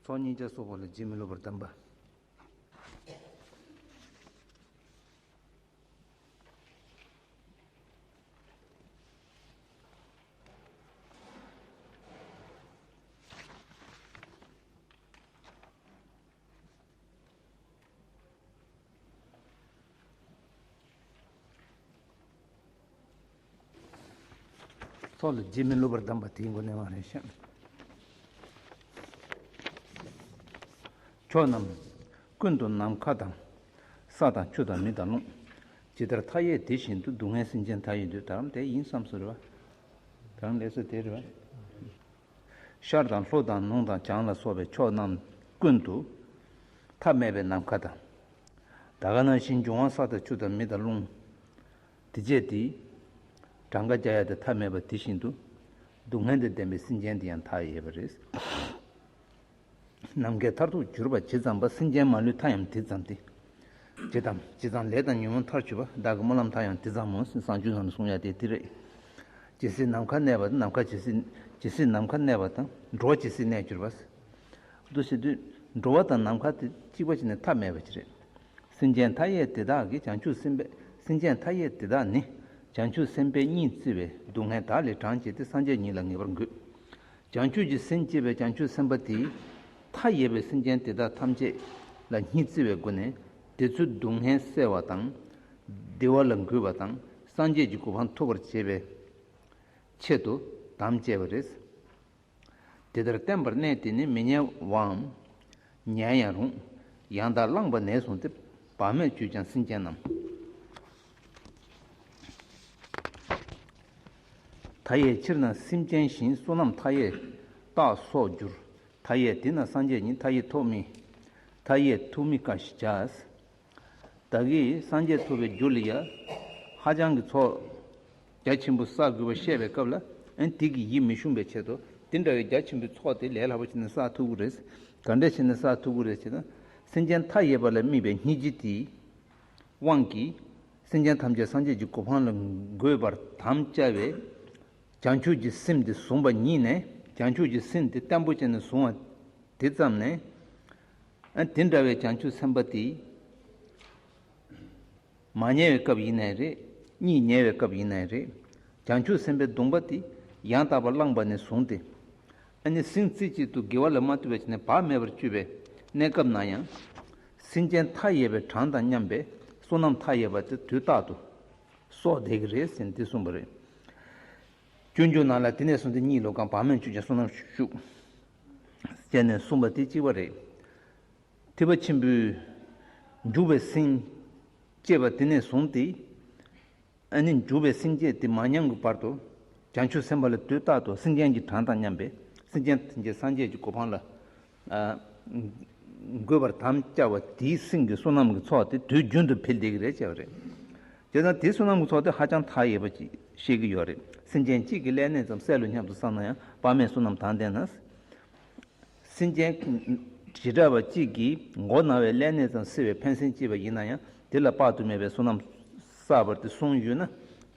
ཚོགས་གཉིས་ཀྱང་སོགས་པ་ལ་རྗེས་མི་སློབ་པར་གདམས་པ། ཚོགས་ལ་རྗེས་མི་སློབ་པར་གདམས་པ་དེའི་མགོ་ནས་མ་རེད་བཤད། ཕྱོགས་རྣམས་ཀུན་ཏུ་ནམ་མཁའ་དང། ས་དང་ཆུ་དང་མི་དང་རླུང། ཇི་ལྟར་མཐའ་ཡས་དེ་བཞིན་དུ་སྡུག་བསྔལ་སེམས་ཅན་མཐའ་ཡས་འདོད། དེ་ཡིན་བསམས་སོ་རེ་བ། དེ་རང་ལས་སོ་དེ་རེ་བ། ཤར་དང་ལྷོ་དང་ནུང་དང་བྱང་ལ་སོགས་པའི་ཕྱོགས་རྣམས་ཀུན་ཏུ། ཐ་མལ་པའི་ནམ་མཁའ་དང། ད་ག་ན་བཞིན་འབྱུང་བ་ས་དང་ཆུ་དང་མི་དང་རླུང། དེ་བཅས་དེའི། གྲངས་ཀ་བརྒྱ་ཡས་ཏེ་ཐ་མལ་པ་དེ་བཞིན་དུ། སྡུག་བསྔལ་དང་ལྡན་པའི་སེམས་ཅན་དེ་ཡང་དག་ཡས་པ་རེད། ནམ་མཁའི་མཐར་ཐུག་གྱུར་པ་ཇི་ཙམ་པ་སེམས་ཅན་མ་ལུས་མཐའ་ཡང་དེ་ཙམ་སྟེ། ཇི་ཙམ་ཇི་ཙམ་ལས་དང་ཉོན་མོངས་མཐར་ཆུད་པ་བདག་གི་སྨོན་ལམ་མཐའ་ཡང་དེ་ཙམ་མོ་སེམས་བཟང་བཅུ་ཙམ་གསུང་ཡ་དེ་དེ་རེད། ཇི་སྲིད་ནམ་མཁའ་གནས་པ་དང་ནམ་མཁའ་ཇི་སྲིད་ཇི་སྲིད་ནམ་མཁའ་གནས་པ་དང་འགྲོ་བ་ཇི་སྲིད་གནས་གྱུར་པ། དུ་སྲིད་དུ་འགྲོ་བ་དང་ནམ་མཁའ་དེ་གཅིག་པ་ཅི་ནས་ཐ་མལ་པ་ཅི་རེད། སེམས་ཅན་མཐའ་ཡས་དེ་དག་གིས་བྱང་ཆུབ་སེམས་དཔའ་སེམས་ཅན་མཐའ་ཡས་དེ་དག་ནི་བྱང་ཆུབ་སེམས་དཔའི་གཉིས་བརྩེ་བའི་སྡུག་བསྔལ་དག་ལས་གྲངས་བཅད་དེ་སངས་རྒྱས་ཉིད་ལ་ངེས་པར་འགོད། བྱང་ཆུབ་ཀྱི་སེམས་བསྐྱེད་པའི་བྱང་ཆུབ་སེམས་དཔའ་དེས་མཐའ་ཡས་པའི་སེམས་ཅན་དེ་དག་ཐམས་ཅད་ལ་གཉིས་བརྩེ་བའི་སྒོ་ནས་དེ་ཚོའི་སྡུག་བསྔལ་བསལ་བ་དང། བདེ་བ་ལ་འགོད་པ་དང་སངས་རྒྱས་ཀྱི་གོ་འཕང་ཐོབ་པར་བྱེད་པའི་ཆེད་དུ་དམ་བཅས་པ་རེད། དེ་ལྟར་བསྟན་པར་གནས་དེ་ནི་མི་ཉལ་བའམ། ཉལ་ཡང་རུང། ཡང་དག་བླངས་པ་ནས་བཟུང་སྟེ་བག་མེད་སྤྱོད་ཅིང་སེམས་ཅན་རྣམས། མཐའ་ཡས་ཕྱིར་ན་སེམས་ཅན་བཞིན་བསོད་ནམས་མཐའ་ཡས་རྟག་སོགས་འགྱུར། མཐའ་ཡས་དེ་ན་སངས་རྒྱས་ཉིད་མཐའ་ཡས་ཐོབ། མཐའ་ཡས་ཐུགས་མི་དཀའ་ཞེས་བྱ། བདག་གིས་སངས་རྒྱས་ཐོབ་པའི་རྒྱུ་ལ་ཡ། ཧ་ཅང་གི་ཚོགས་རྒྱ་ཆེན་པོ་བསགས་དགོས་པར་བཤད་པའི་སྐབས་ལ་དེ་གི་ཡིད་མི་ཞུམ་པའི་ཆེད་དུ་འདི་འདྲ་བའི་རྒྱ་ཆེན་པོའི་ཚོགས་དེ་ལས་ལྷག་པ་བྱས་ན་བསགས་ཐུབ་ཀྱི་རེད། ག་འདྲས་བྱས་ན་བསགས་ཐུབ་ཀྱི་རེད་ཅེ་ན། སེམས་ཅན་མཐའ་ཡས་པ་ལ་སྨིན་པའི་སྙིང་རྗེ་དེ། དབང་གིས། སེམས་ཅན་ཐམས་ཅད་སངས་རྒྱས་ཀྱི་གོ་འཕང་ལ་འགོད་པར་དམ་བཅའ་བས། བྱང་ཆུབ་ཀྱི་སེམས་དེ་བཟུང་བ་ཉིད་ནས་བྱང་ཆུབ་ཀྱི་སེམས་དེ་བརྟན་པོ་ཅན་ནས་བཟུང་བ་དེ་ཙམ་ནས། དེ་འདྲ་བའི་བྱང་ཆུབ་སེམས་དཔའ་དེ། མ་ཉལ་བའི་སྐབས་ཡིན་ནའི་རེད་གཉིད་ཉལ་བའི་སྐབས་ཡིན་ནའི་རེད། བྱང་ཆུབ་སེམས་དཔའི་གདུང་བ་དེ་ཡང་དག་པར་བླངས་པ་ནས་བཟུང་སྟེ། ཟིང་རྩེ་གཅིག་ཏུ་དགེ་བ་ལ་མ་ལྟོས་པ་བྱས་ནས་བག་མེད་པར་སྤྱོད་པའི་གནས་སྐབས་ན་ཡང། སེམས་ཅན་མཐའ་ཡས་པའི་གྲངས་དང་མཉམ་པའི་བསོད་ནམས་མཐའ་ཡས་པ་དེ་དུས་རྟག་ཏུ་གསོག་བསྡད་ཀྱི་རེད་ཟེར་འདི་གསུངས་པ་རེད། སྐྱོན་བརྗོད་གནང་ལ་དེ་ནས་བཟུང་འདི་གཉིས་ལོ་གང་བག་མེད་མཆོད་ཅིང་བསོད་ནམས་ཤུགས་བསྐྱལ་ནས་གསུངས་པ་དེ་གཅིག་པ་རེད། ཐེག་པ་ཆེན་པོའི་འཇུག་པའི་སེམས་བསྐྱེད་པ་དེ་ནས་བཟུང་སྟེ། ཨ་ནི་འབྲུ་བའི་སེམས་བསྐྱེད་དེ་མ་མྱང་གི་བར་དུ་བྱང་ཆུབ་སེམས་དཔའ་ལ་དུས་རྟག་ཏུ་སེམས་ཅན་གྱི་གྲངས་དང་མཉམ་པའི་སེམས་ཅན་དེ་འདྲའི་སངས་རྒྱས་ཀྱི་གོ་འཕང་ལ་འགོད་པར་དམ་བཅའ་བ་དེའི་སེམས་ཀྱི་བསོད་ནམས་ཀྱི་ཚོགས་དེ་དུས་རྒྱུན་དུ་འཕེལ་བདེ་གི་རེད་བྱས་པ་རེད། དེ་དང་དེའི་བསོད་ནམས་ཀྱི་ཚོགས་དེ་ཧ་ཅང་མཐའ་ཡས་པ་ཞིག་ཤེས་ཀྱི་ཡོད་རེད་སེམས་ཅན་གཅིག་གི་ཀླད་གནས་ཙམ་གསལ་ལོ་སྙམ་དུ་བསམ་ན་ཡང་དཔག་མེད་བསོད་ནམས་དང་ལྡན་ན། སྲིན་ཅན་བྱེ་བྲག་པ་གཅིག་གིས་མགོ་ན་བའི་ཀླད་ནད་ཙམ་བསྲེ་བས་ཕན་སེམས་སྐྱེས་པ་ཡིན་ན་ཡང་དེ་ལ་དཔག་ཏུ་མེད་པའི་བསོད་ནམས་བསགས་པར་དེ་གསུངས་ཡོད་ན།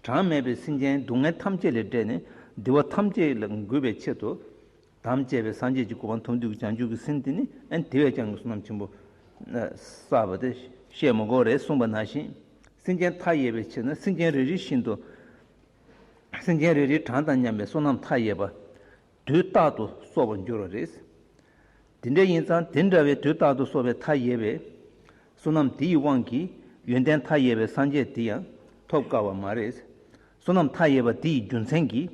གྲངས་མེད་པའི་སྲིན་ཅན་སྡུག་བསྔལ་ཐམས་ཅད་ལས་བསྒྲལ་ནས་འདུལ་བ་ཐམས་ཅད་ལ་འགོད་པའི་ཆེད་དུ། དམ་བཅས་པའི་སངས་རྒྱས་ཀྱི་སྐུ་པང་དུ་འདུས་ཀྱི་བྱང་ཆུབ་ཀྱི་སེམས་དེ་ནི་ཨེ་དེ་བས་ཀྱང་བསོད་ནམས་ཆེན་པོ་བསགས་པ་སྟེ་བཤད་མི་དགོས་རེ་གསུངས་པ་ན་བཞིན་སྲིན་ཅན་མཐའ་ཡས་པའི་ཕྱིར་ན་སྲིན་ཅན་རེ་རེ་བཞིན་དུ། སྲིན་ཅན་རེ་རེའི་གྲངས་དང་མཉམ་པའི་བསོད་ནམས་མཐའ་ཡས་པ། དུས་རྟག་ཏུ་གསོ་བར་འགྱུར་བ་རེད། དེ་འདྲ་ཡིན་ཙང་དེ་འདྲ་བའི་དུས་རྟག་ཏུ་གསོ་བའི་མཐའ་ཡས་པའི་བསོད་ནམས་དེ་ཡི་དབང་གིས་ཡོན་ཏན་མཐའ་ཡས་པའི་སངས་རྒྱས་དེ་ཡང་ཐོབ་དཀའ་བ་མ་རེད། བསོད་ནམས་མཐའ་ཡས་པ་དེ་ཡི་རྒྱུ་མཚན་གྱིས་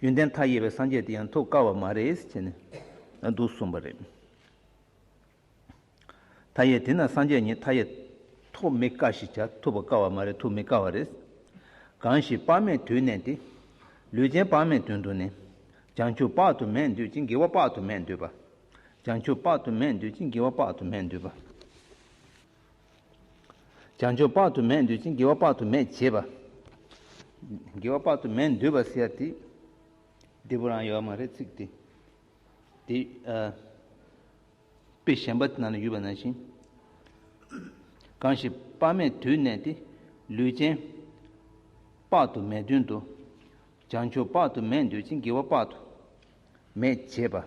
ཡོན་ཏན་མཐའ་ཡས་པའི་སངས་རྒྱས་དེ་ཡང་ཐོབ་དཀའ་བ་མ་རེད། ཅེས་ནི་འདུག་གསུངས་པ་རེད། མཐའ་ཡས་དེ་ན་སངས་རྒྱས་ཉིད་མཐའ་ཡས། ཐོབ་མི་དཀའ་ཞེས་བྱ་ཐུབ་པར་དཀའ་བ་མ་རེད་ཐུབ་མི་དཀའ་བ་རེད། གང་ཞིག་དཔག་མེད་དུས་གནས་ཏེ། ལུས་ཅན་དཔག་མེད་དོན་དུ་གནས། བྱང་ཆུབ་དཔག་ཏུ་མེད་འདོད་ཅིང་དགེ་བ་དཔག་ཏུ་མེད་འདོད་པ། བྱང་ཆུབ་དཔག་ཏུ་མེད་འདོད་ཅིང་དགེ་བ་དཔག་ཏུ་མེད་འདོད་པ། བྱང་ཆུབ་དཔག་ཏུ་མེད་འདོད་ཅིང་དགེ་བ་དཔག་ཏུ་མེད་བྱེད་པ། དགེ་བ་དཔག་ཏུ་མེད་འདོད་པ་ཟེར་ཏེ། འབྲས་བུ་རང་ཡོད་མ་རེད་ཚིག་དེ། དཔེ་གཞན་པ་ན་ལ་ཡོད་པ་ནང་བཞིན། གང་ཞིག་དཔག་མེད་དུས་གནས་ཏེ་ལུས་ཅན། དཔག་ཏུ་མེད་དོན་དུ་བྱང་ཆུབ་དཔག་ཏུ་མེད་འདོད་ཅིང་དགེ་བ་དཔག་ཏུ་མེད་བྱེད་པ།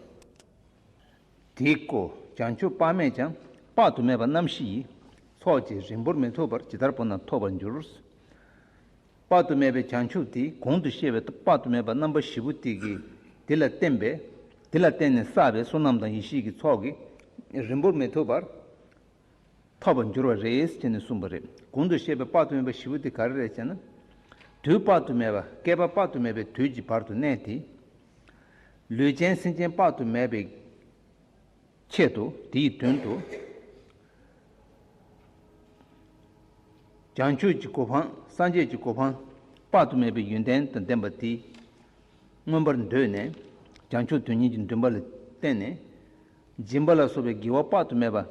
དེ་ཀོ་བྱང་ཆུབ་དཔག་མེད་ཀྱང་དཔག་ཏུ་མེད་པ་རྣམ་བཞི་ཡི་ཚོགས་ཀྱིས་རིང་པོར་མི་ཐུབ་པར་ཇི་ལྟར་བོར་ན་ཐོབ་པར་འགྱུར། དཔག་ཏུ་མེད་པའི་བྱང་ཆུབ་དེ་གོང་དུ་བཤད་པའི་དཔག་ཏུ་མེད་པ་རྣམ་པ་བཞི་པོ་དེ་གིས་དེ་ལ་བརྟེན་པས་དེ་ལ་བརྟེན་ནས་བསགས་པའི་བསོད་ནམས་དང་ཡེ་ཤེས་ཀྱི་ཚོགས་ཀྱིས་རིང་པོར་མི་ཐུབ་པར་ཐོབ་པར་འགྱུར་བ་རེད་ཅེས་ནས་གསུངས་པ་རེད། གོང་དུ་བཤད་པའི་དཔག་ཏུ་མེད་པ་བཞི་པོ་དེ་ག་རེ་རེད་ཅེ་ན། དུས་དཔག་ཏུ་མེད་པ་བསྐལ་པ་དཔག་ཏུ་མེད་པའི་དུས་ཀྱི་བར་དུ་གནས་ཏེ། ལུས་ཅན་སེམས་ཅན་དཔག་ཏུ་མེད་པའི་ཆེད་དུ་དེའི་དོན་དུ་བྱང་ཆུབ་ཀྱི་གོ་འཕང་སངས་རྒྱས་ཀྱི་གོ་འཕང་དཔག་ཏུ་མེད་པའི་ཡོན་ཏན་དང་ལྡན་པ་དེ་མངོན་པར་འདོད་ནས་བྱང་ཆུབ་དོན་གཉིས་ཀྱི་འདུན་པ་ལ་བརྟེན་ནས་སྦྱིན་པ་ལ་སོགས་པའི་དགེ་བ་དཔག་ཏུ་མེད་པ་བྱས་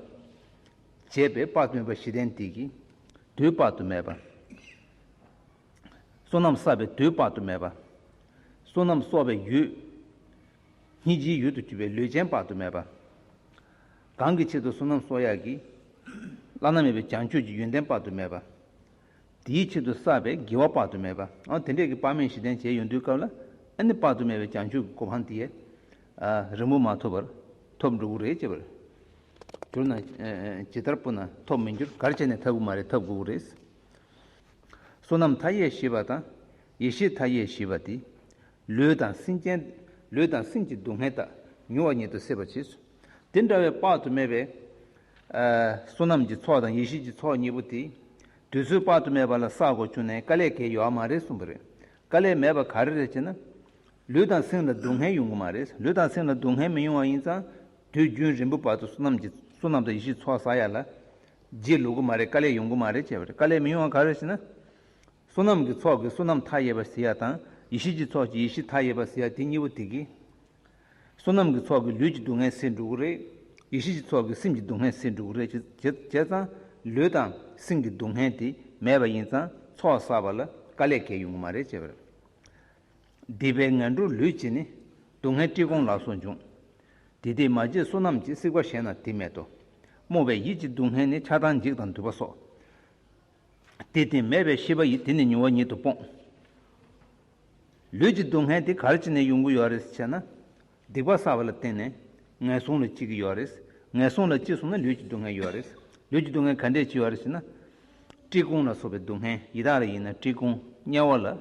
པས་དཔག་ཏུ་མེད་པ་བཞི་ལྡན་དེ་ཀྱི་དུས་དཔག་ཏུ་མེད་པ། བསོད་ནམས་བསགས་པའི་དུས་དཔག་ཏུ་མེད་པ། བསོད་ནམས་གསོག་པའི་ཡུལ། སྙིང་རྗེའི་ཡུལ་དུ་གྱུར་པའི་ལུས་ཅན་དཔག་ཏུ་མེད་པ། གང་གི་ཆེད་དུ་བསོད་ནམས་གསོག་ཡག་གི། བླ་ན་མེད་པའི་བྱང་ཆུབ་ཀྱི་ཡོན་ཏན་དཔག་ཏུ་མེད་པ། དེའི་ཆེད་དུ་བསགས་པའི་དགེ་བ་དཔག་ཏུ་མེད་པ། དེ་འདྲས་ཀྱི་དཔག་མེད་བཞི་ལྡན་བྱས་ཡོན་དུའི་སྐབས་ལ་ཨ་ནི་དཔག་ཏུ་མེད་པའི་བྱང་ཆུབ་ཀྱི་གོ་འཕང་དེའི་རིང་པོ་མ་ཐོབ་པར་ཐོབ་འགྲོ་གི་རེད་ཅེས་པར་གྱུར་ན། ཇི་ལྟར་པོ་ན་ཐོབ་མི་འགྱུར་གར་བྱས་ནས་འཐབ་དགོས་མ་རེད་འཐབ་དགོས་ཀྱི་རེད། བསོད་ནམས་མཐའ་ཡས་བཞི་པ་དང་ཡེ་ཤེས་མཐའ་ཡས་བཞི་པ་དེ་ལུས་དང་སེམས་ཅན། ལུས་དང་སེམས་ཀྱི་སྡུག་བསྔལ་དག་མྱུར་བ་ཉིད་དུ་སེལ་བར་བྱས་སོ། དེ་འདྲ་བའི་དཔག་ཏུ་མེད་པའི། བསོད་ནམས་ཀྱི་ཚོགས་དང་ཡེ་ཤེས་ཀྱི་ཚོགས་གཉིས་པོ་དེ། དུས་ཚོད་དཔག་ཏུ་མེད་པ་ལ་བསགས་སྒོ་ཕྱུང་ནས་དཀའ་ལས་གལ་ཡོད་མ་རེད་གསུངས་པ་རེད། དཀའ་ལས་མེད་པ་ག་རེ་རེད་ཅེ་ན། ལུས་དང་སེམས་ལ་སྡུག་བསྔལ་ཡོང་གི་མ་རེད། ལུས་དང་སེམས་ལ་སྡུག་བསྔལ་མི་ཡོང་བ་ཡིན་ཙང་དུས་རྒྱུན་རིང་པོའི་བར་དུ་བསོད་ནམས་ཀྱི་བསོད་ནམས་དང་ཡེ་ཤེས་ཚོགས་བསགས་ཡ་ལ། རྗེས་ལུས་གི་མ་རེད་དཀའ་ལས་ཡོང་གི་མ་རེད་ཅེས་པ་རེད་དཀའ་ལས་མི་ཡོང་བ་ག་རེ་ཞེ་ན། བསོད་ནམས་ཀྱི་ཚོགས་ཀྱི་བསོད་ནམས་མཐའ་ཡས་པ་གཟི་ཡ་དང་ཡེ་ཤེས་ཀྱི་ཚོགས་ཀྱི་ཡེ་ཤེས་མཐའ་ཡས་པ་གཟི་ཡ་དེ་གཉིས་པོ་དེ་གི། བསོད་ནམས་ཀྱི་ཚོགས་ཀྱི་ལུས་ཀྱི་སྡུག་བསྔལ་སེལ་འགྲོ་གི་རེད། ཡེ་ཤེས་ཀྱི་ཚོགས་ཀྱི་སེམས་ཀྱི་སྡུག་བསྔལ་སེལ་འགྲོ་གི་རེད། བྱས་ཙང་ལུས་དང་སེམས་ཀྱི་སྡུག་བསྔལ་དེ་མེད་པ་ཡིན་ཙང་ཚོགས་བསགས་པ་ལ་དཀའ་ལས་འགེལ་ཡོང་གི་མ་རེད་ཅེས་པར། སྡིག་པའི་ངན་འགྲོར་ལུས་བྱས་ནས་སྡུག་བསྔལ་བཀྲིས་སྐོང་ལགས་སོ་འབྱུང། དེ་དེས་མ་བརྗེད་བསོད་ནམས་ཀྱི་སྲིད་པ་གཞན་ན་དེ་མེད་དོ། རྨོངས་པའི་ཡིད་ཀྱི་སྡུག་བསྔལ་ནི་ཆགས་སྡང་འཇིགས་དང་འདུལ་བ་སོགས། དེ་དེ་མེད་པའི་ཤེས་པ་ཡིས་དེ་ནི་མྱོང་བ་ཉིད་དུ་སྤོང། ལུས་ཀྱི་སྡུག་བསྔལ་དེ་གར་ཅི་ནས་ཡོང་གི་ཡོད་རེད་ཅེ་ན། སྡིག་པ་བསགས་པ་ལ་བརྟེན་ནས་ངན་སོང་ལ་སྐྱེ་གི་ཡོད་རེད། ངན་སོང་ལ་སྐྱེས་སོང་ན་ལུས་ཀྱི་སྡུག་བསྔལ་ཡོད་རེད། ལུས་ཀྱི་སྡུག་བསྔལ་ག་འདྲས་ཅི་ཡོད་རེད་ཅེ་ན། བཀྲེས་སྐོམ་ལ་སོགས་པའི་སྡུག་བསྔལ་ཡི་དྭགས་ལ་ཡིན་ན་བཀྲེས་སྐོམ་དམྱལ་བ་ལ།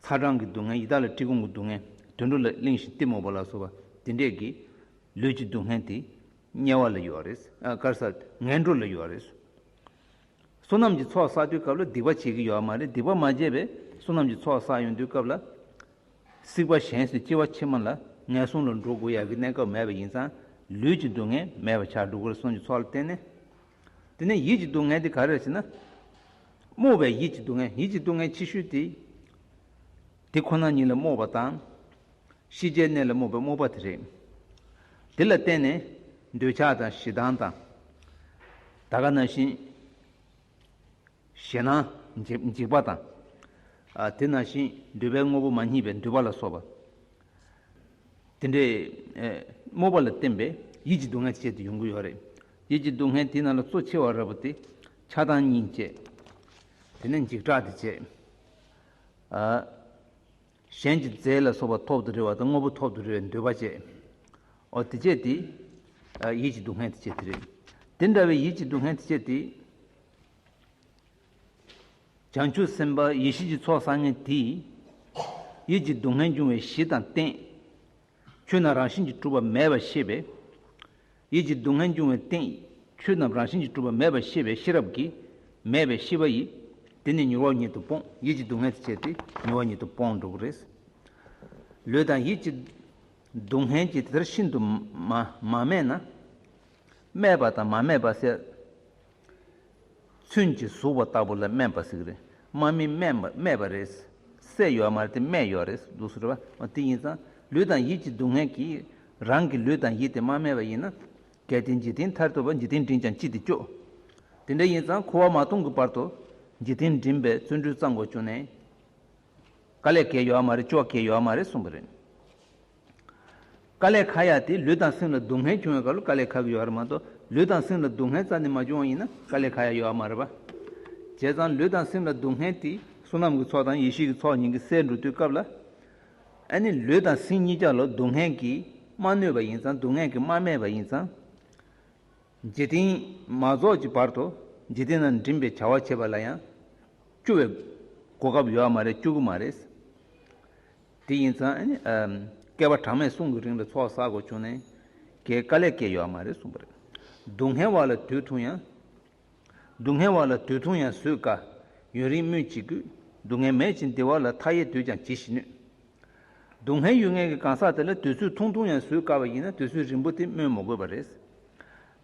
ཚ་གྲང་གི་སྡུག་བསྔལ་ཡི་དྭགས་ལ་བཀྲེས་སྐོམ་གྱི་སྡུག་བསྔལ་དུད་འགྲོ་ལ་གླིང་བཞིན་གཏི་མུག་པ་ལ་སོགས་པ་དེ་འདྲས་ཀྱི་ལུས་ཀྱི་སྡུག་བསྔལ་དེ་དམྱལ་བ་ལ་ཡོད་རེད། དཀར་གསལ་ངན་འགྲོ་ལ་ཡོད་རེད། བསོད་ནམས་ཀྱི་ཚོགས་བསགས་དུས་སྐབས་ལ་སྡིག་པ་བྱེད་ཀྱི་ཡོད་མ་རེད་སྡིག་པ་མ་བྱས་པའི་བསོད་ནམས་ཀྱི་ཚོགས་བསགས་ཡོང་དུས་སྐབས་ལ། སྲིད་པ་གཞན་སུ་སྐྱེ་བ་ཕྱི་མ་ལ་ངན་སོང་ལ་འགྲོ་དགོས་ཡག་གི་གནས་སྐབས་མེད་པ་ཡིན་ཙང་ལུས་ཀྱི་སྡུག་བསྔལ་མེད་པ་ཆགས་འགྲོ་དགོས་རེད་སོན་གྱི་ཚོགས་ལ་བརྟེན་ནས། དེ་ནས་ཡིད་ཀྱི་སྡུག་བསྔལ་དེ་ག་རེ་རེད་ཟེར་ན། རྨོངས་པའི་ཡིད་ཀྱི་སྡུག་བསྔལ་ཡིད་ཀྱི་སྡུག་བསྔལ་ཆེ་ཤོས་དེ། དེ་ཁོ་ན་ཉིད་ལ་རྨོངས་པ་དང། ཤེས་བྱའི་གནས་ལ་རྨོངས་པའི་རྨོངས་པ་དེ་རེད། དེ་ལ་བརྟེན་ནས་འདོད་ཆགས་དང་ཞེ་སྡང་དང། ད་ག་ན་བཞིན་ཞེ་ན། འཇིག་པ་དང། དེ་ན་བཞིན་འདུས་པའི་དངོས་པོ་མ་མཉེས་པའི་འདུས་པ་ལ་སོགས་པ། དེ་འདྲའི། སྨོད་པ་ལ་བརྟེན་པའི་ཡིད་ཀྱི་སྡུག་བསྔལ་བཅས་ཏེ་ཡོང་གི་ཡོད་རེད། ཡིད་ཀྱི་སྡུག་བསྔལ་དེ་རྣམས་ལ་གཙོ་ཆེ་བ་རེ་བ་སྟེ། ཆགས་སྡང་གཉིས་བཅས། དེ་ནས་འཇིགས་སྐྲག་དེ་བཅས། གཞན་གྱི་རྫས་ལ་སོགས་པ་ཐོག་ཏུ་རེ་བ་དང་དངོས་པོ་ཐོག་ཏུ་རེ་བའི་འདོད་པ་བཅད། འོ་དེ་བཅད་དེ། ཡིད་ཀྱི་སྡུག་བསྔལ་དེ་བཅད་དེ་རེད། དེ་འདྲ་བའི་ཡིད་ཀྱི་སྡུག་བསྔལ་དེ་བཅད་དེ། བྱང་ཆུབ་སེམས་དཔའ་ཡེ་ཤེས་ཀྱི་ཚོགས་བསགས་ངན་དེས། ཡིད་ཀྱི་སྡུག་བསྔལ་འབྱུང་བའི་གཞི་དང་རྟེན། ཆོས་རྣམས་རང་བཞིན་གྱིས་གྲུབ་པ་མེད་པར་ཤེས་པས། ཡིད་ཀྱི་སྡུག་བསྔལ་འབྱུང་བའི་སྟེང། ཆོས་རྣམས་རང་བཞིན་གྱིས་གྲུབ་པ་མེད་པར་ཤེས་པས་ཤེས་རབ་ཀྱིས། མེད་པའི་ཤེས་པ་ཡིས། དེ་ནི་མྱུར་བ་ཉིད་དུ་སྤོང། ཡིད་ཀྱི་སྡུག་བསྔལ་དེ་བྱས་ཏེ་མྱུར་བ་ཉིད་དུ་སྤོང་འགྲོ་གི་རེད། ལུས་དང་ཡིད་ཀྱི། སྡུག་བསྔལ་གྱིས་དེ་ལྟར་ཤིན་ཏུ། མ་སྨད་ན། སྨད་པ་དང་མ་སྨད་པ་བསལ། ཚོན་གྱིས་གཟུགས་པ་ལྟ་བུ་ལ་སྨན་པ་ཟིག་རེད་སྨན་མི་སྨན་པ་རེད། སྲས་ཡོད་མ་རེད་དེ་སྨན་ཡོད་རེད་འདུག་ཟེར་བ་དེ་ཡིན་ཙང་ལུས་དང་ཡིད་ཀྱི་སྡུག་བསྔལ་གྱིས་རང་གི་ལུས་དང་ཡིད་དེ་མ་སྨད་པ་ཡིན་ན། གལ་ཏེ་འཇིག་རྟེན་མཐར་ཐུག་པར་འཇིག་རྟེན་འགྲིམས་ཀྱང་ཅི་སྟེ་སྐྱོ། དེ་འདྲ་ཡིན་ཙང་ཁུ་བ་མ་གཏོང་གི་བར་དུ་འཇིག་རྟེན་འགྲིམས་པའི་བརྩོན་འགྲུས་གཙང་དགོས་བྱུང་ནས། དཀའ་ལས་གལ་ཡོད་མ་རེད་སྐྱོ་གལ་ཡོད་མ་རེད་གསུངས་པ་རེད། དཀའ་ལས་ཁག་ཡག་དེས་ལུས་དང་སེམས་ལ་སྡུག་བསྔལ་བྱུང་བའི་སྐབས་ལ་དཀའ་ལས་ཁག་གི་ཡོད་རེད་མ་གཏོགས་ལུས་དང་སེམས་ལ་སྡུག་བསྔལ་རྩ་ནས་མ་བྱུང་བ་ཡིན་ན་དཀའ་ལས་ཁག་ཡག་ཡོད་ཨ་མ་རེད་པ། བྱས་ཙང་ལུས་དང་སེམས་ལ་སྡུག་བསྔལ་དེས་བསོད་ནམས་ཀྱི་ཚོགས་དང་ཡེ་ཤེས་ཀྱི་ཚོགས་གཉིས་ཀྱི་སས་འགྲོ་དུས་སྐབས་ལ། ཨ་ནི་ལུས་དང་སེམས་གཉིས་ཀྱང་ལ་སྡུག་བསྔལ་གྱིས་མ་གནོད་པ་ཡིན་ཙང་སྡུག་བསྔལ་གྱིས་མ་སྨད་པ་ཡིན་ཙང། འཇིག་རྟེན་མ་རྫོགས་ཀྱི་བར་དུ་འཇིག་རྟེན་ན་འགྲིམས་པའི་བྱ་བ་བྱེད་པ་ལ་ཡང་སྐྱོ་བའི་གོ་སྐབས་ཡོད་ཨ་མ་རེད་སྐྱོ་གི་མ་རེད། དེ་ཡིན་ཙང་བསྐལ་བ་གྲངས་མེད་གསུང་གི་རིང་ལ་ཚོགས་བསགས་དགོས་བྱུང་ནས་ཀྱི་དཀའ་ལས་སྐྱེས་ཡོད་མ་རེད་གསུངས་པ་རེད། སྡུག་བསྔལ་བ་ལ་དུས་ཐུང་ཡང། སྡུག་བསྔལ་བ་ལ་དུས་ཐུང་ཡང་བཟོད་དཀའ། ཡུན་རིང་སྨོས་ཅི་དགོས། སྡུག་བསྔལ་མེད་ཅིང་བདེ་བ་ལ་མཐའ་ཡས་དུས་ཀྱང་ཇི་བཞིན་ནུས། སྡུག་བསྔལ་ཡུལ་ངན་གྱི་གང་ཟག་དེ་ལ་དུས་ཚོད་ཐུང་ཐུང་ཡང་བཟོད་དཀའ་བ་ཡིན་ན་དུས་ཚོད་རིང་པོ་དེ་སྨོས་མ་དགོས་པ་རེད།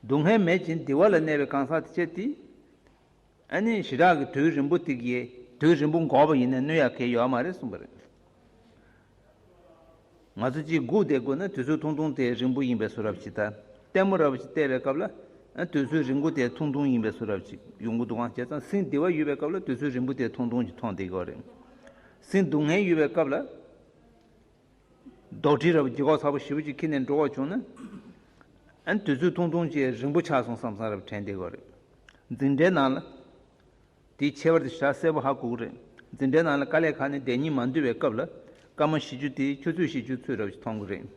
སྡུག་བསྔལ་མེད་ཅིང་བདེ་བ་ལ་གནས་པའི་གང་ཟག་དེ་ཆེ་དེ། ཨ་ནི་ཞི་དྲག་གི་དུས་རིང་པོ་ཐིག་ཡེ་དུས་རིང་པོ་འགོར་བ་ཡིན་ན་ནུ་ཡ་གས་ཡོད་མ་རེད་གསུངས་པ་རེད། ང་ཚོ་གཅིག་སྒུག་བསྡད་དགོས་ན་དུས་ཚོད་ཐུང་ཐུང་དེ་རིང་པོ་ཡིན་པས་སུ་རབ་ཅིག་ད་ལྟད་མོ་རབ་ཅིག་བལྟས་པའི་སྐབས་ལ་དུས་ཚོད་རིང་པོ་དེ་ཐུང་ཐུང་ཡིན་པས་སུ་རབ་ཅིག་ཡོང་གི་འདུག་ཨང་བྱས་ཙང་སིང་སྡི་བ་ཡོད་པའི་སྐབས་ལ་དུས་ཚོད་རིང་པོ་དེ་ཐུང་ཐུང་ཅིག་མཐོང་བསྡད་དགོས་རེད། སིང་སྡུག་བསྔལ་ཡོད་པའི་སྐབས་ལ། རྡོག་ཁྲེས་ར་བའི་རྒྱུ་ཁ་ཚ་པོ་ཞེ་བོ་ཅིག་ཁྱེར་ནས་འགྲོ་བར་བྱུང་ན། ཨ་དུས་ཚོད་ཐུང་ཐུང་ཅིག་རིང་པོ་ཆགས་སོང་བསམ་བསམ་ར་བའི་དྲན་བདེ་བ་རེད། འཛིན་གྲྭའི་ནང་ལ། དེའི་ཁྱད་པར་དེ་ཤ་གསལ་པོ་ཧ་གོ་གི་རེད། འཛིན་གྲྭའི་ནང་ལ་དཀའ་ལས་ཁག་ནི་བདེན་གཉིས་མ་འདུས་པའི་སྐབས་ལ། སྐར་མ་བཞི་བཅུ་དེའི་ཆུ་ཚོད་བཞི་བཅུ་ཚོད་ར་བ་ཅིག་མཐོང་གི་རེད།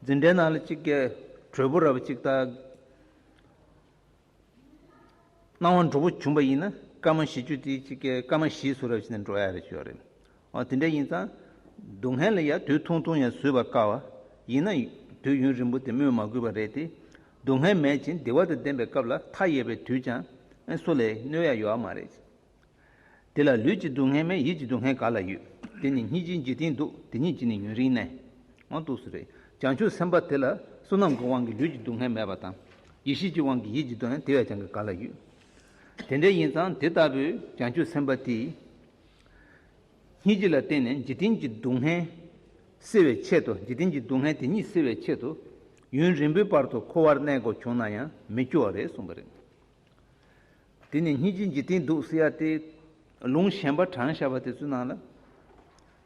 འཛིན་གྲྭའི་ནང་ལ་གཅིག་གས་གྲོད་པོ་ར་བ་ཅིག་བཏགས། སྣང་བ་འགྲོ་བོ་བྱུང་བ་ཡིན་ན་སྐར་མ་བཞི་བཅུ་དེའི་ཕྱི་སྐད་སྐར་མ་བཞིའི་ཚུར་རབ་བྱེད་ནས་འགྲོ་ཡ་རེད་ཤོད་རེད། འོ་དེ་འདྲ་ཡིན་ཙང། སྡུག་བསྔལ་ལ་ཡང་དུས་ཐུང་ཐུང་ཡང་བཟོད་པ་དཀའ་བ། ཡིན་ན། དུས་ཡུན་རིང་པོ་དེ་སྨོས་མ་དགོས་པ་རེད་དེ། སྡུག་བསྔལ་མེད་ཅིང་བདེ་བ་དང་ལྡན་པའི་སྐབས་ལ་མཐའ་ཡས་པའི་དུས་ཀྱང། སུ་ལས་གནོད་ཡ་ཡོད་ཨ་མ་རེད། དེ་ལ་ལུས་ཀྱི་སྡུག་བསྔལ་མེད་ཡིད་ཀྱི་སྡུག་བསྔལ་ག་ལ་ཡོད། དེ་ནི་སྙིང་རྗེའི་འཇིག་རྟེན་སྡུག་དེ་ཉིད་ཀྱིས་ནི་ཡུན་རིང་གནས། ཨང་ཏུ་སུ་རེ། བྱང་ཆུབ་སེམས་དཔའ་དེ་ལ་བསོད་ནམས་ཀྱི་དབང་གིས་ལུས་ཀྱི་སྡུག་བསྔལ་མེད་པ་དང། ཡེ་ཤེས་ཀྱི་དབང་གིས་ཡིད་ཀྱི་སྡུག་བསྔལ་དེ་བས་ཀྱང་གི་ག་ལ་ཡོད། དེ་འདྲ་ཡིན་ཙང་དེ་ལྟ་བུའི་བྱང་ཆུབ་སེམས་དཔའ་དེས། སྙིང་རྗེ་ལ་བརྟེན་ནས་འཇིག་རྟེན་གྱི་སྡུག་བསྔལ་སེལ་བའི་ཆེད་དུ་འཇིག་རྟེན་གྱི་སྡུག་བསྔལ་དེ་ཉིད་སེལ་བའི་ཆེད་དུ། ཡུན་རིང་པོའི་བར་དུ་འཁོར་བར་གནས་དགོས་བྱུང་ན་ཡང་མི་སྐྱོ་བ་རེད་གསུངས་པ་རེད། དེ་ནས་གཉིས་ཀྱི་འཇིག་རྟེན་སྡུག་བསལ་ཡ་སྟེ། ལུང་གཞན་པ་གྲངས་བཤད་པ་དེ་ཚོའི་ནང་ལ།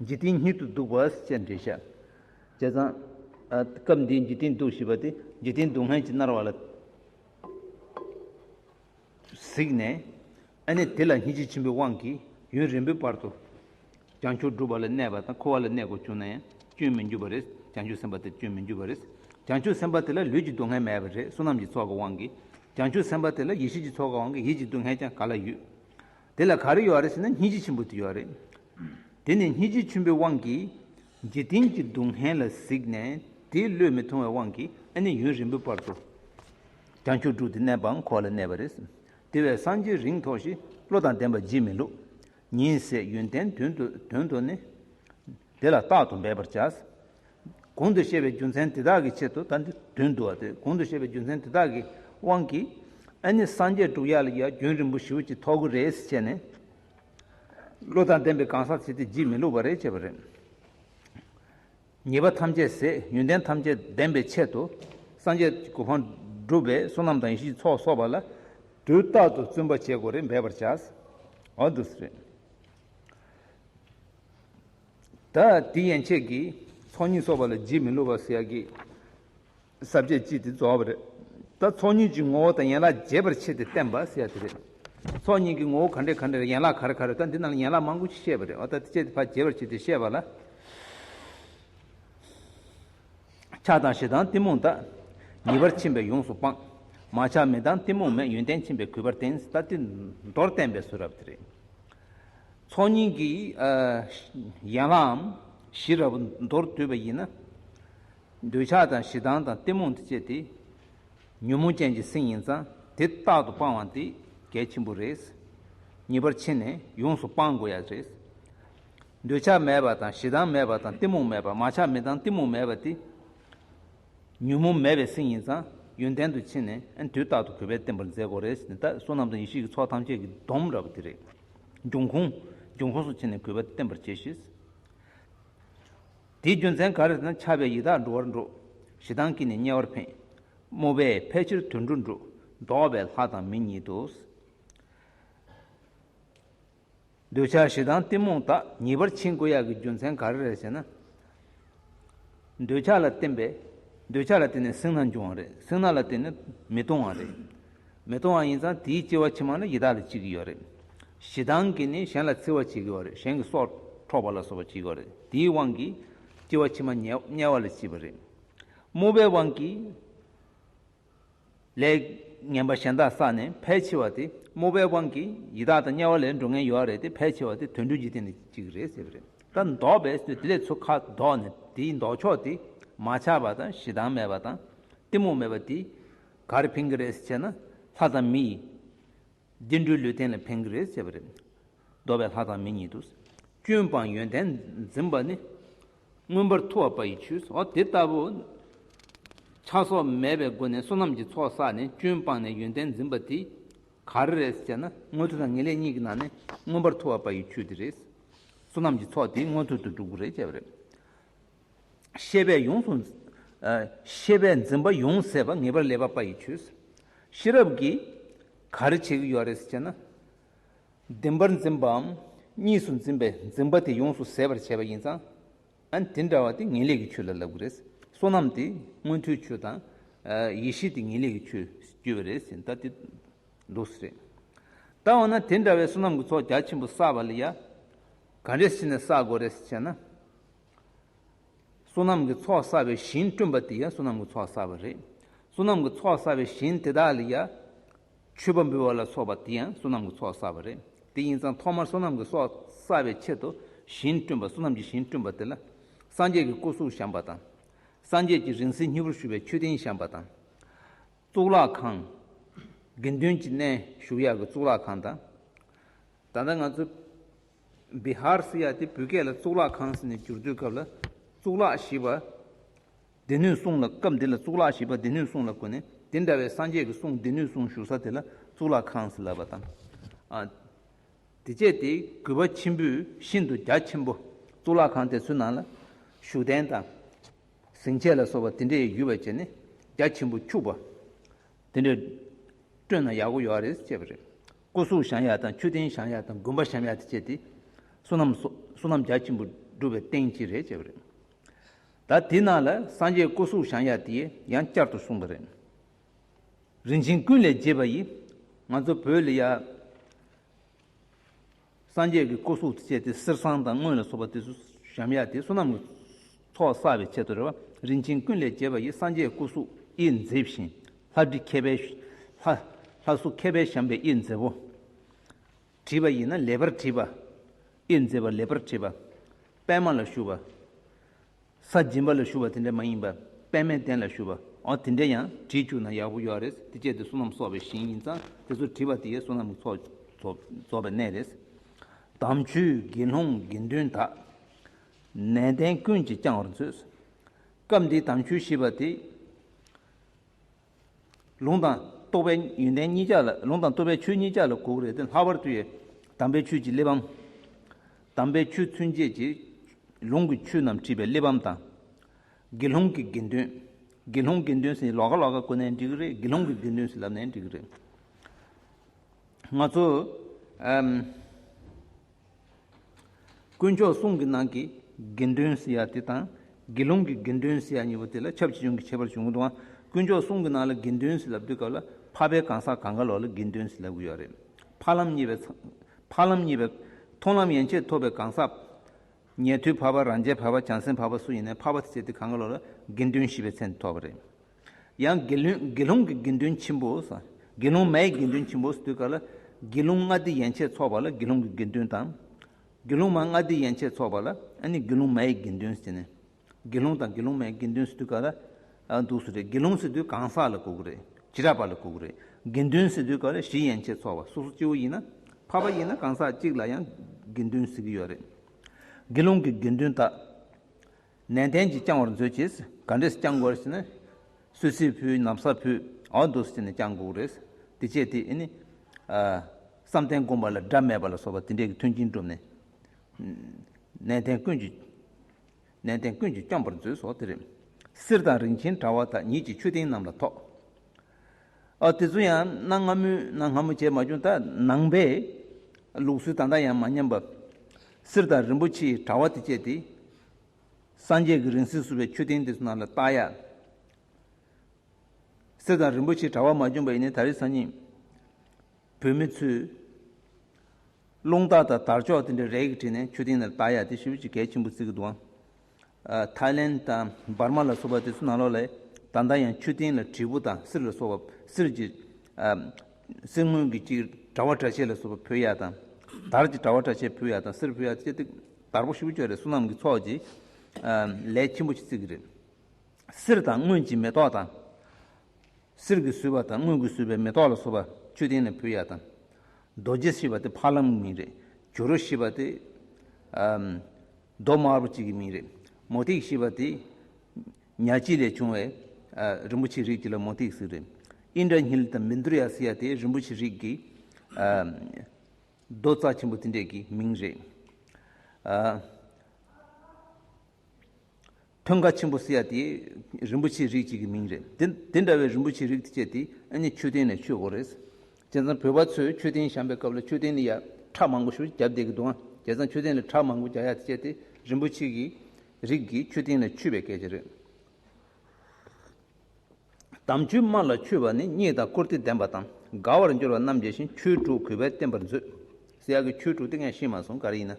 འཇིག་རྟེན་སྙིད་དུ་སྡུག་བསལ་བཅས་འགྲེལ་བཤད་བྱས་ཙང། སྐབས་འདིའི་འཇིག་རྟེན་སྡུག་ཞེས་པ་དེ་འཇིག་རྟེན་སྡུག་བསྔལ་གྱིས་མནར་བ་ལ་གཟིགས་ནས། ཨ་ནི་དེ་ལ་སྙིང་རྗེ་ཆེན་པོའི་དབང་གིས་ཡུན་རིང་པོའི་བར་དུ། བྱང་ཆུབ་སྒྲུབ་པ་ལ་གནས་པ་དང་འཁོར་བ་ལ་གནས་དགོས་བྱུང་ན་ཡང་སྐྱོན་མི་འགྱུར་བ་རེད། བྱང་ཆུབ་སེམས་དཔའ་དེར་སྐྱོན་མི་འགྱུར་བ་རེད། བྱང་ཆུབ་སེམས་དཔའ་དེ་ལ་ལུས་ཀྱི་སྡུག་བསྔལ་མེད་པ་རེད་བསོད་ནམས་ཀྱི་ཚོགས་ཀྱི་དབང་གིས། བྱང་ཆུབ་སེམས་དཔའ་དེ་ལ་ཡེ་ཤེས་ཀྱི་ཚོགས་ཀྱི་དབང་གིས་ཡིད་ཀྱི་སྡུག་བསྔལ་ཀྱང་ག་ལ་ཡོད། དེ་ལ་ག་རེ་ཡོད་རེད་ཟེར་ན་སྙིང་རྗེ་ཆེན་པོ་དེ་ཡོད་རེད། དེ་ནི་སྙིང་རྗེ་ཆེན་པོའི་དབང་གིས། འཇིག་རྟེན་གྱི་སྡུག་བསྔལ་ལ་གཟིགས་ནས་དེའི་བློས་མི་ཐོང་བའི་དབང་གིས་ཨ་ནི་ཡུན་རིང་པོའི་བར་དུ། བྱང་ཆུབ་སྒྲུབ་སྟེ་གནས་པའང་འཁོར་བ་ལ་གནས་པ་རེད། དེ་བས་སངས་རྒྱས་རིང་ཐོགས་ཤིག་བློ་དང་ལྡན་པ་བགྱིད་མི་ལུགས། ཉེས་བྱས་ཡོན་ཏན་དོན་དུ་ནི། དེ་ལ་རྟག་ཏུ་འབད་པར་བྱ། གོང་དུ་བཤད་པའི་རྒྱུ་མཚན་དེ་དག་གི་ཆེད་དུ་ད་འདི་དོན་བསྡུ་བ་སྟེ་གོང་དུ་བཤད་པའི་རྒྱུ་མཚན་དེ་དག་གི་དབང་གིས་ཨེ་ནི་སངས་རྒྱས་དྲུག་ཡ་ལ་ཡ་རྒྱུན་རིང་པོ་བཞི་བོ་ཅི་ཐོག་གུ་རེ་ཟི་བྱས་ནས། བློ་དང་ལྡན་པའི་གང་ཟག་བྱེད་དེ་བགྱིད་མི་ལུགས་པ་རེ་བྱས་པ་རེད། ཉེས་པ་ཐམས་ཅད་ཟད་ཡོན་ཏན་ཐམས་ཅད་ལྡན་པའི་ཆེད་དུ། སངས་རྒྱས་ཀྱི་གོ་འཕང་བསྒྲུབ་པའི་བསོད་ནམས་དང་ཡེ་ཤེས་ཚོགས་གསོག་པ་ལ། དུས་རྟག་ཏུ་བརྩོན་པ་བྱེད་དགོས་རེད་འབད་པར་བྱ། འོ་དུས་རེད། ད་དེ་ཡན་ཆད་ཀྱིས་ཚོགས་གཉིས་གསོག་པ་ལ་རྗེས་མི་སླུ་བ་ཟེར་ཡག་གི། ཟབ་ཁྱད་ཅིག་དེ་རྫོགས་པ་རེད། ད་ཚོགས་གཉིས་ཀྱི་ངོ་བོ་དང་ཡན་ལག་རྒྱས་པར་ཕྱེ་སྟེ་བསྟན་པ་ཟེར་ཡ་དེ་རེད། ཚོགས་གཉིས་ཀྱི་ངོ་བོ་ག་འདྲས་ག་འདྲས་ཡན་ལག་ག་རེ་ག་རེ་ད་འདི་རྣམས་ལ་ཡན་ལག་མང་པོ་ཞིག་བཤད་པ་རེད་བ་ད་དེ་བཅད་དེ་ཕ་རྒྱས་པར་བྱས་ཏེ་བཤད་པ་ལ། ཆགས་དང་ཞེ་སྡང་གཏི་མུག་དག། ཉེས་པར་ཕྱིན་པས་ཡོངས་སུ་སྤངས། མ་ཆགས་མི་སྡང་གཏི་མུག་མེད་ཡོན་ཏན་ཕྱིན་པས་གུས་པར་བསྟེན་ད་འདི་མདོར་བསྟན་པའི་གཟུགས་རབ་དེ་རེད། ཚོགས་གཉིས་ཀྱི་ཡན་ལག་འམ་གཞི་རབ་མདོར་བསྡུས་པ་ཡིན་ན། འདོད་ཆགས་དང་ཞེ་སྡང་དང་གཏི་མུག་འདི་བཅས་ཏེ། ཉོན་མོངས་ཅན་གྱི་སེམས་ཡིན་ཙང་དེ་རྟག་ཏུ་སྤང་བ་འདི་གལ་ཆེན་པོ་རེད། ངེས་པར་ཕྱི་ནས་ཡོངས་སུ་སྤང་དགོས་ཡ་རེད། འདོད་ཆགས་མེད་པ་དང་ཞེ་སྡང་མེད་པ་དང་གཏི་མུག་མེད་པ་མ་ཆགས་མེད་དང་གཏི་མུག་མེད་པ་དེ། ཉོན་མོངས་མེད་པའི་སེམས་ཡིན་ཙང་ཡོན་ཏན་དུ་ཕྱི་ནས་དུས་རྟག་ཏུ་གུས་པས་བསྟེན་པར་མཛད་དགོས་རེད་འདི་ལྟར་བསོད་ནམས་དང་ཡེ་ཤེས་ཀྱི་ཚོགས་ཐམས་ཅད་ཀྱི་སྡོམ་ར་བ་འདི་རེད། འབྱུང་ཁུངས་འབྱུང་ཁུངས་སུ་ཕྱི་ནས་གུས་པ་བསྟེན་པར་བྱས་ཤིང། དེའི་རྒྱུ་མཚན་ག་རེ་ལྟར་ན་འཆལ་པའི་ཡི་དྭགས་འགྲོ་བར་འགྲོ། ཞེ་སྡང་གིས་ནི་དམྱལ་བར་འཕེན། རྨོ་བས་ཕལ་ཆེར་དུད་འགྲོ་འགྲོ། བཟློག་པས་ལྷ་དང་མི་ཉིད་དུ། འདོད་ཆགས་ཞེ་སྡང་གཏི་མུག་དག་ཉེས་པར་འཆིང་དགོས་ཡག་གི་རྒྱུ་མཚན་ག་རེ་རེད་ཟེར་ན། འདོད་ཆགས་ལ་བརྟེན་པས། འདོད་ཆགས་ལ་བརྟེན་ནས་སེང་ན་འབྱུང་བ་རེད་སེང་ན་ལ་བརྟེན་ནས་མི་སྟོང་བ་རེད། མི་མཐོང་བ་ཡིན་ཙང་དེའི་སྐྱེ་བ་ཕྱི་མ་ནི་ཡི་དྭགས་ལ་སྐྱེ་གི་ཡོད་རེད། ཞེ་སྡང་གིས་ནི་གཞན་ལ་འཚེ་བ་བྱེད་ཀྱི་ཡོད་རེད་གཞན་གྱི་སྲོག་འཕྲོག་པ་ལ་སོགས་པ་བྱེད་ཀྱི་ཡོད་རེད་དེའི་དབང་གིས་སྐྱེ་བ་ཕྱི་མ་དམྱལ་བ་ལ་སྐྱེས་པ་རེད། དམུ་པའི་དབང་གིས་ལས་ངན་པ་གཞན་དག་བསགས་ནས་ཕལ་ཆེ་བ་དེ་དམུ་པའི་དབང་གིས་ཡི་དྭགས་དང་དམྱལ་བ་ལས་འགྲོ་ངན་ཡོད་རེད་དེ་ཕལ་ཆེ་བ་དེ་དུད་འགྲོའི་འཇིག་རྟེན་ལ་སྐྱེ་གི་རེད་ཟེར་གི་རེད་ད་མདོ་པས་སུས་དེ་ལས་ཚུར་ཁ་དོག་ནས་དེའི་ལྡོག་ཕྱོགས་དེ་མ་ཆགས་པ་དང་ཞེ་སྡང་མེད་པ་དང་གཏི་མུག་མེད་པ་དེའི་གར་ཕན་གི་རེད་ཅེ་ན་ལྷ་དང་མི་ཡིས། འདི་འདྲུའི་ལུས་རྟེན་ལ་ཕན་གི་རེད་ཅེས་པ་རེད། འདོ་བའི་ལྷ་དང་མི་ཉིད་དུ། སྐྱོན་སྤངས་ཡོན་ཏན་འཛིན་པ་ནི། མངོན་པར་མཐུ་བ་པ་ཡི་ཆུས་སོ། དེ་ལྟ་བུ། ཆགས་སོགས་མེད་པའི་སྒོ་ནས་བསོད་ནམས་ཀྱི་ཚོགས་བསགས་ནས་སྐྱོན་སྤངས་ནས་ཡོན་ཏན་འཛིན་པ་དེ། གར་རེད་ཅེ་ན། མངོན་མཐུ་དང་ངེས་ལེགས་གཉིས་ཀྱི་ནང་ནས་མངོན་པར་མཐུ་བ་པ་ཡི་ཆུས་དེ་རེད། བསོད་ནམས་ཀྱི་ཚོགས་དེ་མངོན་མཐུ་དུ་འགྲུབ་གི་རེད་ཅེས་པ་རེད། ཤེས་པས་ཡོངས་སུ། ཤེས་པས་འཛིན་པ་ཡོངས་སེལ་བ་ངེས་པར་ལེགས་པ་པ་ཡིས་ཆོས། ཤེས་རབ་ཀྱིས། ག་རེ་བྱེད་ཀྱི་ཡོད་རེད་ཅེ་ན། བདེན་པར་འཛིན་པའམ་གཉིས་སུ་འཛིན་པའི་འཛིན་པ་དེ་ཡོངས་སུ་ཟད་པར་བྱེད་པ་ཡིན་ཙང། དེ་འདྲ་བ་དེ་ངེས་ལེགས་ཀྱི་ཆོས་ལ་ལབ་ཀྱི་རེད། བསོད་ནམས་དེ་མངོན་མཐོའི་ཆོས་དང། ཡེ་ཤེས་དེ་ངེས་ལེགས་ཀྱི་ཆོས་སུ་གྱུར་པ་རེད་ཟེར་ད་དེ། ལུགས་སུ་རེད། ད་འོ་ན་དེ་འདྲ་བའི་བསོད་ནམས་ཀྱི་ཚོགས་རྒྱ་ཆེན་པོ་བསགས་པ་ལ་ཡང། ག་རེ་བྱས་ནས་བསགས་དགོས་རེད་ཅེ་ན། བསོད་ནམས་ཀྱི་ཚོགས་བསགས་པའི་ཞིང་བསྐྲུན་པ་དེ་ཡང་བསོད་ནམས་ཀྱི་ཚོགས་བསགས་པ་རེད། བསོད་ནམས་ཀྱི་ཚོགས་བསགས་པའི་ཞིང་དེ་དག་ལ་ཡང། མཆོད་པ་འབུལ་བ་ལ་སོགས་པ་དེ་ཡང་བསོད་ནམས་ཀྱི་ཚོགས་བསགས་པ་རེད། དེ་ཡིན་ཙང་ཐོག་མར་བསོད་ནམས་ཀྱི་ཚོགས་བསགས་པའི་ཆེད་དུ་ཞིང་བསྐྲུན་པ་བསོད་ནམས་ཀྱི་ཞིང་བསྐྲུན་པ་དེ་ལ། སངས་རྒྱས་ཀྱི་སྐུ་གཟུགས་བཤམས་པ་དང། སངས་རྒྱས་ཀྱི་རིང་བསྲེལ་མཉེས་པོར་ཞུ་བའི་མཆོད་རྟེན་བཤམས་པ་དང། གཙུག་ལག་ཁང། དགེ་འདུན་གྱི་གནས་བཞུགས་ཡར་གྱི་གཙུག་ལག་ཁང་དང། ད་ལྟ་ང་ཚོས། བི་ཧར་སི་ཡ་དེ་བོད་སྐད་ལ་གཙུག་ལག་ཁང་ཟེར་ནས་བསྒྱུར་དུས་སྐབས་ལ་གཙུག་ལག་ཞེས་པ་སྡེ་སྣོད་གསུང་ལ་སྐབས་འདི་ལ་གཙུག་ལག་ཞེས་པ་སྡེ་སྣོད་གསུང་ལ་གོ་ནས་དེ་འདྲ་བའི་སངས་རྒྱས་ཀྱི་གསུང་སྡེ་སྣོད་གསུང་བཞུགས་ས་དེ་ལ་གཙུག་ལག་ཁང་ཟེར་ལབ་པ་དང། དེ་བཅས་དེ་གུས་པ་ཆེན་པོས་ཤིན་ཏུ་རྒྱ་ཆེན་པོ་གཙུག་ལག་ཁང་དེ་ཚོའི་ནང་ལ་བཞུགས་གདན་དང། གཟིངས་ཆས་ལ་སོགས་པ་དེ་འདྲའི་ཡུལ་བ་བྱས་ནས་རྒྱ་ཆེན་པོ་འཁྱུག་པ། དེ་འདྲ་བསྐྲུན་ན་ཡག་གོ་ཡོའ་རེད་ཅེས་པ་རེད། སྐུ་གཟུགས་ཞང་ཡག་དང་ཆུ་སྟེང་ཞང་ཡག་དང་དགོན་པ་ཞམ་ཡག་དེ་བཅས་དེ་བསོད་ནམས་སོ་བསོད་ནམས་རྒྱ་ཆེན་པོ་བསྒྲུབ་པའི་རྟེན་གཅིག་རེད་ཅེས་པ་རེད། ད་དེ་ནང་ལ་སངས་རྒྱས་སྐུ་གཟུགས་ཞང་ཡག་དེ་ཡང་བསྐྱར་དུ་གསུངས་པ་རེད། རིན་ཆེན་ཀུན་ལས་རྒྱས་པ་ཡིས་ང་ཚོ་བོད་ལ་ཡག། སངས་རྒྱས་ཀྱི་སྐུ་གཟུགས་བཅས་ཏེ་གསེར་ཟངས་དང་དངུལ་ལ་སོགས་པ་དེ་ཚོ་ཞམ་ཡག་སྟེ་བསོད་ནམས་ཀྱི་ཚོགས་བསགས་པའི་ཆེད་དུ་རེ་བ་རིན་ཆེན་ཀུན་ལས་རྒྱས་པ་ཡི་སངས་རྒྱས་སྐུ་གཟུགས་དབྱིབས་མཛེས་ཤིང་ལྷ་བྲིས་མཁས་པའི། ལྷ་གཟུགས་མཁས་པས་བཤམས་པའི་དབྱིབས་མཛེས་པོ། བྲིས་པ་ཡིན་ན་ལེགས་པར་བྲིས་པ། དབྱིབས་མཛེས་པ་ལེགས་པར་བྲིས་པ། པདྨ་ལ་བཞུགས་པ། ས་སྦྱིན་པ་ལ་ཞུ་བ་དེ་འདྲ་མ་ཡིན་པར་པདྨའི་གདན་ལ་ཞུ་བ་འོ་དེ་འདྲ་ཡང་བྲིས་བཅུག་ན་ཡག་པོ་ཡོད་རེད་དེ་སྤྱད་དེ་བསོད་ནམས་གསོག་པའི་ཞིང་ཡིན་ཙང་དེ་ཚོ་བྲིས་པ་དེ་ཡས་བསོད་ནམས་ཚོགས་རྫོགས་པའི་གནས་རེད། དམ་ཆོས་དགེ་སློང་དགེ་འདུན་དག། ནན་ཏན་ཀུན་གྱིས་བསྐྱང་བར་མཛོད། སྐབས་འདིའི་དམ་ཆོས་ཞེས་པ་དེ། ལུང་དང་རྟོགས་པའི་ཡོན་ཏན་གཉིས་ཆར་ལ་ལུང་དང་རྟོགས་པའི་ཆོས་གཉིས་ཆར་ལ་གོ་བོ་རེ་སྟེ་ལྷག་པར་དུ་ཡི་དམ་པའི་ཆོས་ཀྱི་གླེགས་བམ། དམ་པའི་ཆོས་ཚུན་ཆད་ཀྱི་ལུང་གི་ཆོས་རྣམས་བྲིས་པའི་གླེགས་བམ་དང། དགེ་སློང་གི་དགེ་འདུན། དགེ་སློང་དགེ་འདུན་ཟིན་ལོག་ག་ལོག་ག་བཀོད་ནས་འགྲིག་གི་རེད་དགེ་སློང་གི་དགེ་འདུན་ཟིན་ལབ་ནས་འགྲིག་གི་རེད། ང་ཚོ། དཀོན་མཆོག་གསུང་གི་ནང་གི་དགེ་འདུན་ཟེར་ཡ་དེ་དང་དགེ་སློང་གི་དགེ་འདུན་ཟེར་ཡ་གཉིས་པོ་དེ་ལ་ཁྱབ་ཅི་བྱུང་གི་ཁྱད་པར་བྱུང་དུའང་དཀོན་མཆོག་གསུང་གི་ནང་ལ་དགེ་འདུན་ཟེར་ལབ་དུས་སྐབས་ལ་འཕགས་པའི་གང་ཟག་གང་ག་ལོག་ལ་དགེ་འདུན་ཟེར་ལབ་གི་ཡོད་རེད། འཕགས་ལམ་གཉིས་པའི། འཕགས་ལམ་གཉིས་པའི། མཐོང་ལམ་ཡན་ཆད་ཐོབ་པའི་གང་ཟག། ཉལ་ཐུལ་འཕགས་པ་རང་རྒྱལ་འཕགས་པ་བྱང་སེམས་འཕགས་པ་སུ་ཡིན་ནའི་འཕགས་པ་དེ་བྱས་དེ་གང་ག་ལོག་ལ་དགེ་འདུན་བཞི་པའི་མཚན་དེ་ཐོབ་པ་རེད། ཡང་དགེ་སློང་གི་དགེ་འདུན་ཆེན་པོ། དགེ་སློང་མའི་དགེ་འདུན་ཆེན་པོ་དུས་འགའ་ལ། དགེ་སློང་ལྔ་སྡེ་ཡན་ཆད་འཚོགས་པ་ལ་དགེ་སློང་གི་དགེ་འདུན་དང། དགེ་སློང་མ་ལྔ་སྡེ་ཡན་ཆད་འཚོགས་པ་ལ་ནི་དགེ་སློང་མའི་དགེ་འདུན་ཟེར། དགེ་སློང་དང་དགེ་སློང་མའི་དགེ་འདུན་དུས་འགའ་ལ། འདུག་སུ་རེད་དགེ་སློང་ཟེར་དུས་གང་ཟག་ལ་གོ་གི་རེད་ཇི་རགས་པ་ལ་གོ་གི་རེད། དགེ་འདུན་ཟེར་དུས་འགའ་ལ་བཞི་ཡན་ཆད་འཚོགས་པ་སོ་སོ་སྐྱེ་བོ་ཡིན་ན། འཕགས་པ་ཡིན་ན་གང་ཟག་གཅིག་ལ་ཡང་དགེ་འདུན་ཟེར་གི་ཡོད་རེད། དགེ་སློང་གི་དགེ་འདུན་དག། ནན་ཏན་གྱིས་བསྐྱང་བར་མཛོད་ཅེས་ག་འདྲས་བསྐྱང་དགོས་ཞེ་ན། སུད་སི་ཕུའི་ནམ་ཟ་ཕུ་ཨའོ་མདོ་སུ་ཅེས་ནས་བསྐྱང་དགོས་རེད། དེ་བྱས་དེ་ཨེ་ནི། བསམ་གཏན་བསྒོམ་པ་ལ་སྒྲ་མེད་པ་ལ་སོགས་པ་དེ་འདྲས་ཀྱི་མཐུན་རྐྱེན་བསྒྲུབས་ནས། ནན་ཏན་ཀུན་གྱིས་ནན་ཏན་ཀུན་གྱིས་བསྐྱང་བར་མཛོད་སོགས་དེ་རེད། གསེར་དང་རིན་ཆེན་དྲ་བ་དག་ཉིད་ཀྱི་མཆོད་རྟེན་རྣམས་ལ་ཐོགས། དེ་ཚོ་ཡང་གནའ་སྔ་མོའི་གནའ་སྔ་མོ་བྱས་མ་བྱུང་ད་ནང་པའི་ལུགས་སྲོལ་དང་འདྲ་ཡང་མ་ཉམས་པར། གསེར་དང་རིན་པོ་ཆེའི་དྲ་བ་དེ་སྤྱད་དེ། སངས་རྒྱས་ཀྱི་རིང་བསྲེལ་བསུ་བའི་མཆོད་རྟེན་དེ་ཚོ་ནང་ལ་བཏགས། གཡག་གསེར་དང་རིན་པོ་ཆེའི་དྲ་བ་མ་བྱུང་བ་ཡིན་ནའི་ད་རེས་སང་ཉིན་བོད་མི་ཚོས་རླུང་རྟ་དང་དར་ལྕོག་དེ་འདྲ་རས་ཀྱིས་བྲིས་ནས་མཆོད་རྟེན་ནང་བཏགས་ཡག་དེ་ཧྲིལ་པོ་ཆེ་གལ་ཆེན་པོ་བརྩི་གི་འདུག་ཨང། ཐའི་ལེན་དང་འབར་མ་ལ་སོགས་པ་དེ་ཚོ་ནང་ལོགས་ལས་ད་ལྟ་ཡང་མཆོད་རྟེན་ལ་དྲིལ་བུ་དང་གསེར་ལ་སོགས་པ་གསེར་གྱི་གསེར་དངུལ་གྱི་ཅིག་དྲ་བ་དྲ་ཕྱེད་ལ་སོགས་པ་ཕུལ་ཡག་དང། དར་གྱི་དྲ་བ་དྲ་ཕྱེད་ཕུལ་ཡག་དང་གསེར་ཕུལ་ཡག་སྤྱད་དེ་དར་པོ་ཧྲིལ་པོ་ཅོག་རེ་བསོད་ནམས་ཀྱི་ཚོགས་ཀྱིས་ལས་ཆེན་པོ་ཆེ་བརྩིགས་ཀྱི་རེད། གསེར་དང་དངུལ་གྱི་མེ་ཏོག་དང། གསེར་གྱིས་བཟོས་པ་དང་དངུལ་གྱིས་བཟོས་པའི་མེ་ཏོག་ལ་སོགས་པ་མཆོད་རྟེན་ལ་ཕུལ་ཡག་དང། རྡོ་རྗེ་ཞེས་པ་དེ་ཕ་ལམ་གྱི་མིང་རེད། ཇོ་རུ་ཞེས་པ་དེ། རྡོ་དམར་པོ་གཅིག་གི་མིང་རེད། མོ་ཏིག་ཞེས་པ་དེ། ཉག་གཅིག་ལས་བྱུང་བའི། རིན་པོ་ཆེའི་རིགས་ཀྱི་ལ་མོ་ཏིག་ཟེར། ཨིན་དྲ་ཉིལ་དང་མིན་དུར་ཡ་སི་ཡ་དེ་རིན་པོ་ཆེའི་རིགས་ཀྱི། རྡོ་རྩ་ཆེན་པོ་དེ་འདྲས་ཀྱི་མིང་རེད། མཐོན་ཁ་ཆེན་པོ་སེ་ཡ་དེ་རིན་པོ་ཆེའི་རིགས་གཅིག་གི་མིང་རེད། དེ་འདྲ་བའི་རིན་པོ་ཆེའི་རིགས་སྤྱད་དེ་ཨ་མྱེས་མཆོད་རྟེན་ནས་མཆོད་དགོས་རེད། བྱས་ཙང་བོད་པ་ཚོས་མཆོད་རྟེན་བཤམས་པའི་སྐབས་ལ་མཆོད་རྟེན་ནི་ཡར་ཁྲག་མང་པོ་ཞུ་རྒྱབ་བསྡད་ཀྱི་འདུག་ཨང་བྱས་ཙང་མཆོད་རྟེན་ལ་ཁྲག་མང་པོ་རྒྱག་ཡ་སྤྱད་དེ་རིན་པོ་ཆེ་གི་རིགས་ཀྱི་མཆོད་རྟེན་ལ་འཁྱུད་པའི་སྐད་ཆ་རེད། དམ་ཆོས་དམར་ལ་འཁྱུད་པ་ནི་རྙེད་དང་བཀུར་སྟི་ལྡན་པ་དང་དགའ་བར་འགྱུར་བ་རྣམ་རྒྱལ་བཞིན་ཁྱོད་ཕྲུག་གུས་པས་བསྟེན་པར་མཛོད། སེ་ཡ་གི་ཁྱོད་ཕྲུག་དེ་ངས་ཤེས་མ་སོང་ག་རེ་ཡིན་ན།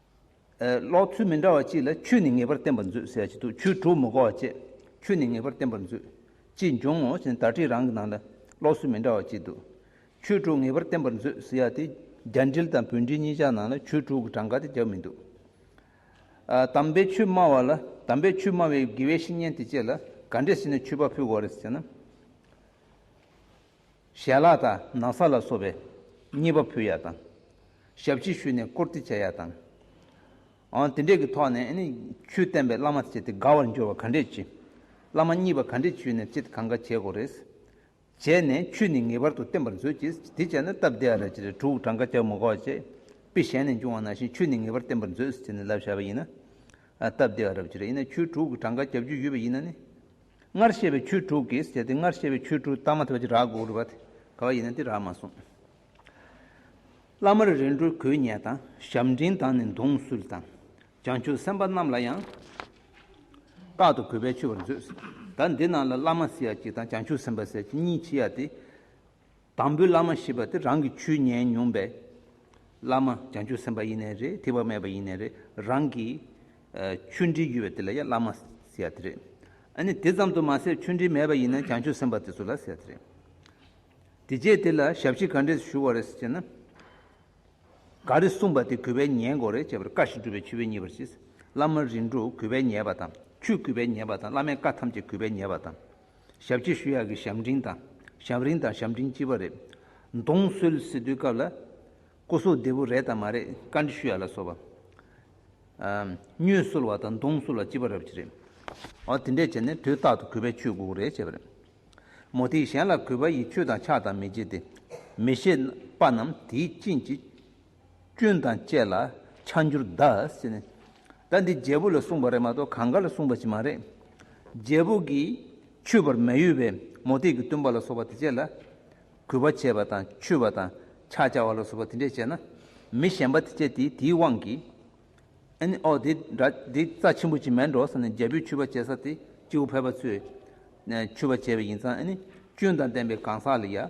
ལོག་ཚུལ་མི་འདྲ་བ་གཅིག་ལ་ཆོས་ནི་ངེས་པར་བསྟན་པར་མཛོད་ཟེར་གྱི་འདུག་ཆོས་དྲུག་མི་གོ་བ་བཅས་ཆོས་ནི་ངེས་པར་བསྟན་པར་མཛོད་ཅེས་འབྱུང་ངོ་ཞེ་ན་དག་སྒྲིག་རང་གི་ནང་ལ་ལོག་ཚུལ་མི་འདྲ་བ་གཅིག་འདུག་ཆོས་དྲུག་ངེས་པར་བསྟན་པར་མཛོད་ཟེར་ཡ་དེ་རྒྱ་འགྲེལ་དང་བོད་འགྲེལ་གཉིས་ཆ་ནང་ལ་ཆོས་དྲུག་གི་གྲངས་ཀ་དེ་བརྒྱབ་མི་འདུག་དམ་པའི་ཆོས་སྨྲ་བ་ལ་དམ་པའི་ཆོས་སྨྲ་བའི་དགེ་བའི་བཤེས་གཉེན་དེ་བཅས་ལ་ག་འདྲས་ཟེར་ནས་མཆོད་པ་ཕུལ་དགོས་རེད་ཟེར་ན། ཞལ་ལག་དང་ན་བཟའ་ལ་སོགས་པའི་རྙེད་པ་ཕུལ་ཡག་དང། ཞབས་ཕྱི་ཞུས་ནས་བཀུར་སྟི་བྱས་ཡག་དང། དེ་འབྲེལ་གྱི་ཐོག་ནས་ཆོས་བསྟན་པའི་བླ་མ་བྱས་ཏེ་དགའ་བར་འགྱུར་བ་ག་འདྲས་བྱེད། བླ་མ་གཉིས་པ་ག་འདྲས་བྱོས་ནས་ཅེས་གང་འགའ་བྱས་གོ་རེས། བྱས་ནས་ཆོས་ནི་ངེས་པར་དུ་བསྟན་པར་མཛོད་ཅེས་དེ་བྱས་ན་སྟབས་བདེ་ཨ་ར་ཅི་རེད་དྲུག་གྲངས་ཀ་བྱ་མི་གོ་བ་ཅེས་དཔེ་གཞན་ནས་འབྱུང་བ་ནང་བཞིན་ཆོས་ནི་ངེས་པར་བསྟན་པར་མཛོད་ཅེས་ནི་ལབ་བཞག་པ་ཡིན་ན་སྟབས་བདེ་ཨ་ར་ཅི་རེད་ཡིན་ན་ཆོས་དྲུག་གྲངས་ཀ་བྱ་རྒྱུ་ཡོད་པ་ཡིན་ན་ནི། སྔར་བཤད་པའི་ཆོས་དྲུག་གིས་བྱས་ཏེ་སྔར་བཤད་པའི་ཆོས་དྲུག་བརྟག་མ་ཐུབ་པ་ཅི་རག་གོ་རུ་བ་དེ་ག་བ་ཡིན་ན་དེ་རག་མ་གསུངས། བླ་མར་རིལ་འགྲོ་གོས་ཉལ་དང་ཞབས་འབྲིང་དང་ནི་མདུང་གསུལ་དང། བྱང་ཆུབ་སེམས་དཔའ་རྣམས་ལ་ཡང། རྟག་ཏུ་གུས་པས་མཆོད་པར་མཛོད། ད་འདི་རྣམས་ལ་བླ་མ་སེར་ཡག་ཅིག་དང་བྱང་ཆུབ་སེམས་དཔའ་སེར་ཡག་ཅིག་གཉིས་མཆིས་ཡ་སྟེ། དང་པོའི་བླ་མ་ཞེས་པ་དེ་རང་གི་ཆོས་ཉན་མྱོང་པའི་བླ་མ་བྱང་ཆུབ་སེམས་དཔའ་ཡེ་ནས་རེད་ཐིགས་པ་མེད་པ་ཡེ་ནས་རེད་རང་གི་ཆོས་འདྲིས་ཡོད་པའི་དེ་ལ་ཡང་བླ་མ་ཟེར་ཡག་དེ་རེད་ཨ་ནི་དེ་ཙམ་དུ་མ་ཟད་ཆོས་འདྲིས་མེད་པ་ཡིན་ན་བྱང་ཆུབ་སེམས་དཔའ་དེ་ཚོ་ལ་ཟེར་དེ་རེད་དེ་རྗེས་དེ་ལ་ཞབས་ཕྱི་ག་འདྲས་ཞུ་བ་རེད་ཟེར་ན། ག་རེ་གསུངས་པ་དེ་གུས་པས་ཉན་དགོས་རེད་ཅེས་པར་བཀའ་ཞིག་སྒྲུབ་པའི་ཆུ་བོའི་གཉིས་པར་ཞེས་བླ་མ་རིན་དྲུག་གུས་པས་ཉན་པ་དང་ཆུ་གུས་པས་ཉན་པ་དང་བླ་མའི་བཀའ་ཐམས་ཅད་གུས་པས་ཉན་པ་དང། ཞབས་སྐྱིད་ཤུལ་ཡག་གི་ཞབས་འབྲིང་དང་ཞབས་རིང་དང་ཞབས་འབྲིང་སྐྱིད་པ་རེད། གདོང་གསོལ་སི་ཏུའི་སྐབས་ལ། སྐུ་སྲོག་བདེ་བོ་རེད་དམ་མ་རེད་བཀའ་འདྲི་ཞུ་ཡག་ལ་སོ་བ། སྨྱོས་གསོལ་བ་དང་གདོང་གསོལ་བ་སྐྱིད་པ་རབ་ཅི་རེད། འོ་དེ་འདྲས་བྱས་ནས་དུས་རྟག་ཏུ་གུས་པས་ཆོས་གོ་གི་རེད་བྱས་པ་རེད། མོ་དེས་གཞན་ལ་གུས་པ་ཡིས་ཆོས་དང་ཕྱག་དང་མི་བྱེད་དེ། མི་ཤེས་པ་རྣམས་དེའི་རྐྱེན་གྱིས། སྐྱོན་དང་བཅས་ལ་ཆ་འགྱུར་གདའ་ཟེར་ནས། ད་འདི་རྒྱལ་པོ་ལ་གསུངས་པ་རེད་མ་གཏོགས་གང་ག་ལ་གསུངས་པ་ཅིག་མ་རེད། རྒྱལ་པོ་གིས་ཆུད་པར་མ་ཡོད་པའི་མོ་ཏིག་གི་བཏུན་པ་ལ་སོགས་པ་དེ་བཅས་ལ། གུས་པ་བྱེད་པ་དང་ཆུད་པ་དང་ཕྱག་བྱ་བ་ལ་སོགས་པ་དེ་འདྲས་བྱས་ན། མི་གཞན་པ་དེ་བཅས་དེ་དེའི་དབང་གིས། ཨེ་ནི་ཨོ་དེ་འདྲ་དེ་རྩ་ཆེན་པོ་ཅིག་མེད་འགྲོ་ཟེར་ནས་རྒྱལ་པོས་ཆུད་པ་བྱེད་ས་དེ་སྐྱེ་བོ་ཕལ་པ་ཚོས་ཆུད་པ་བྱས་པ་ཡིན་ཙང་ཨེ་ནི་སྐྱོན་དང་ལྡན་པའི་གང་ཟག་ལ་ཡ།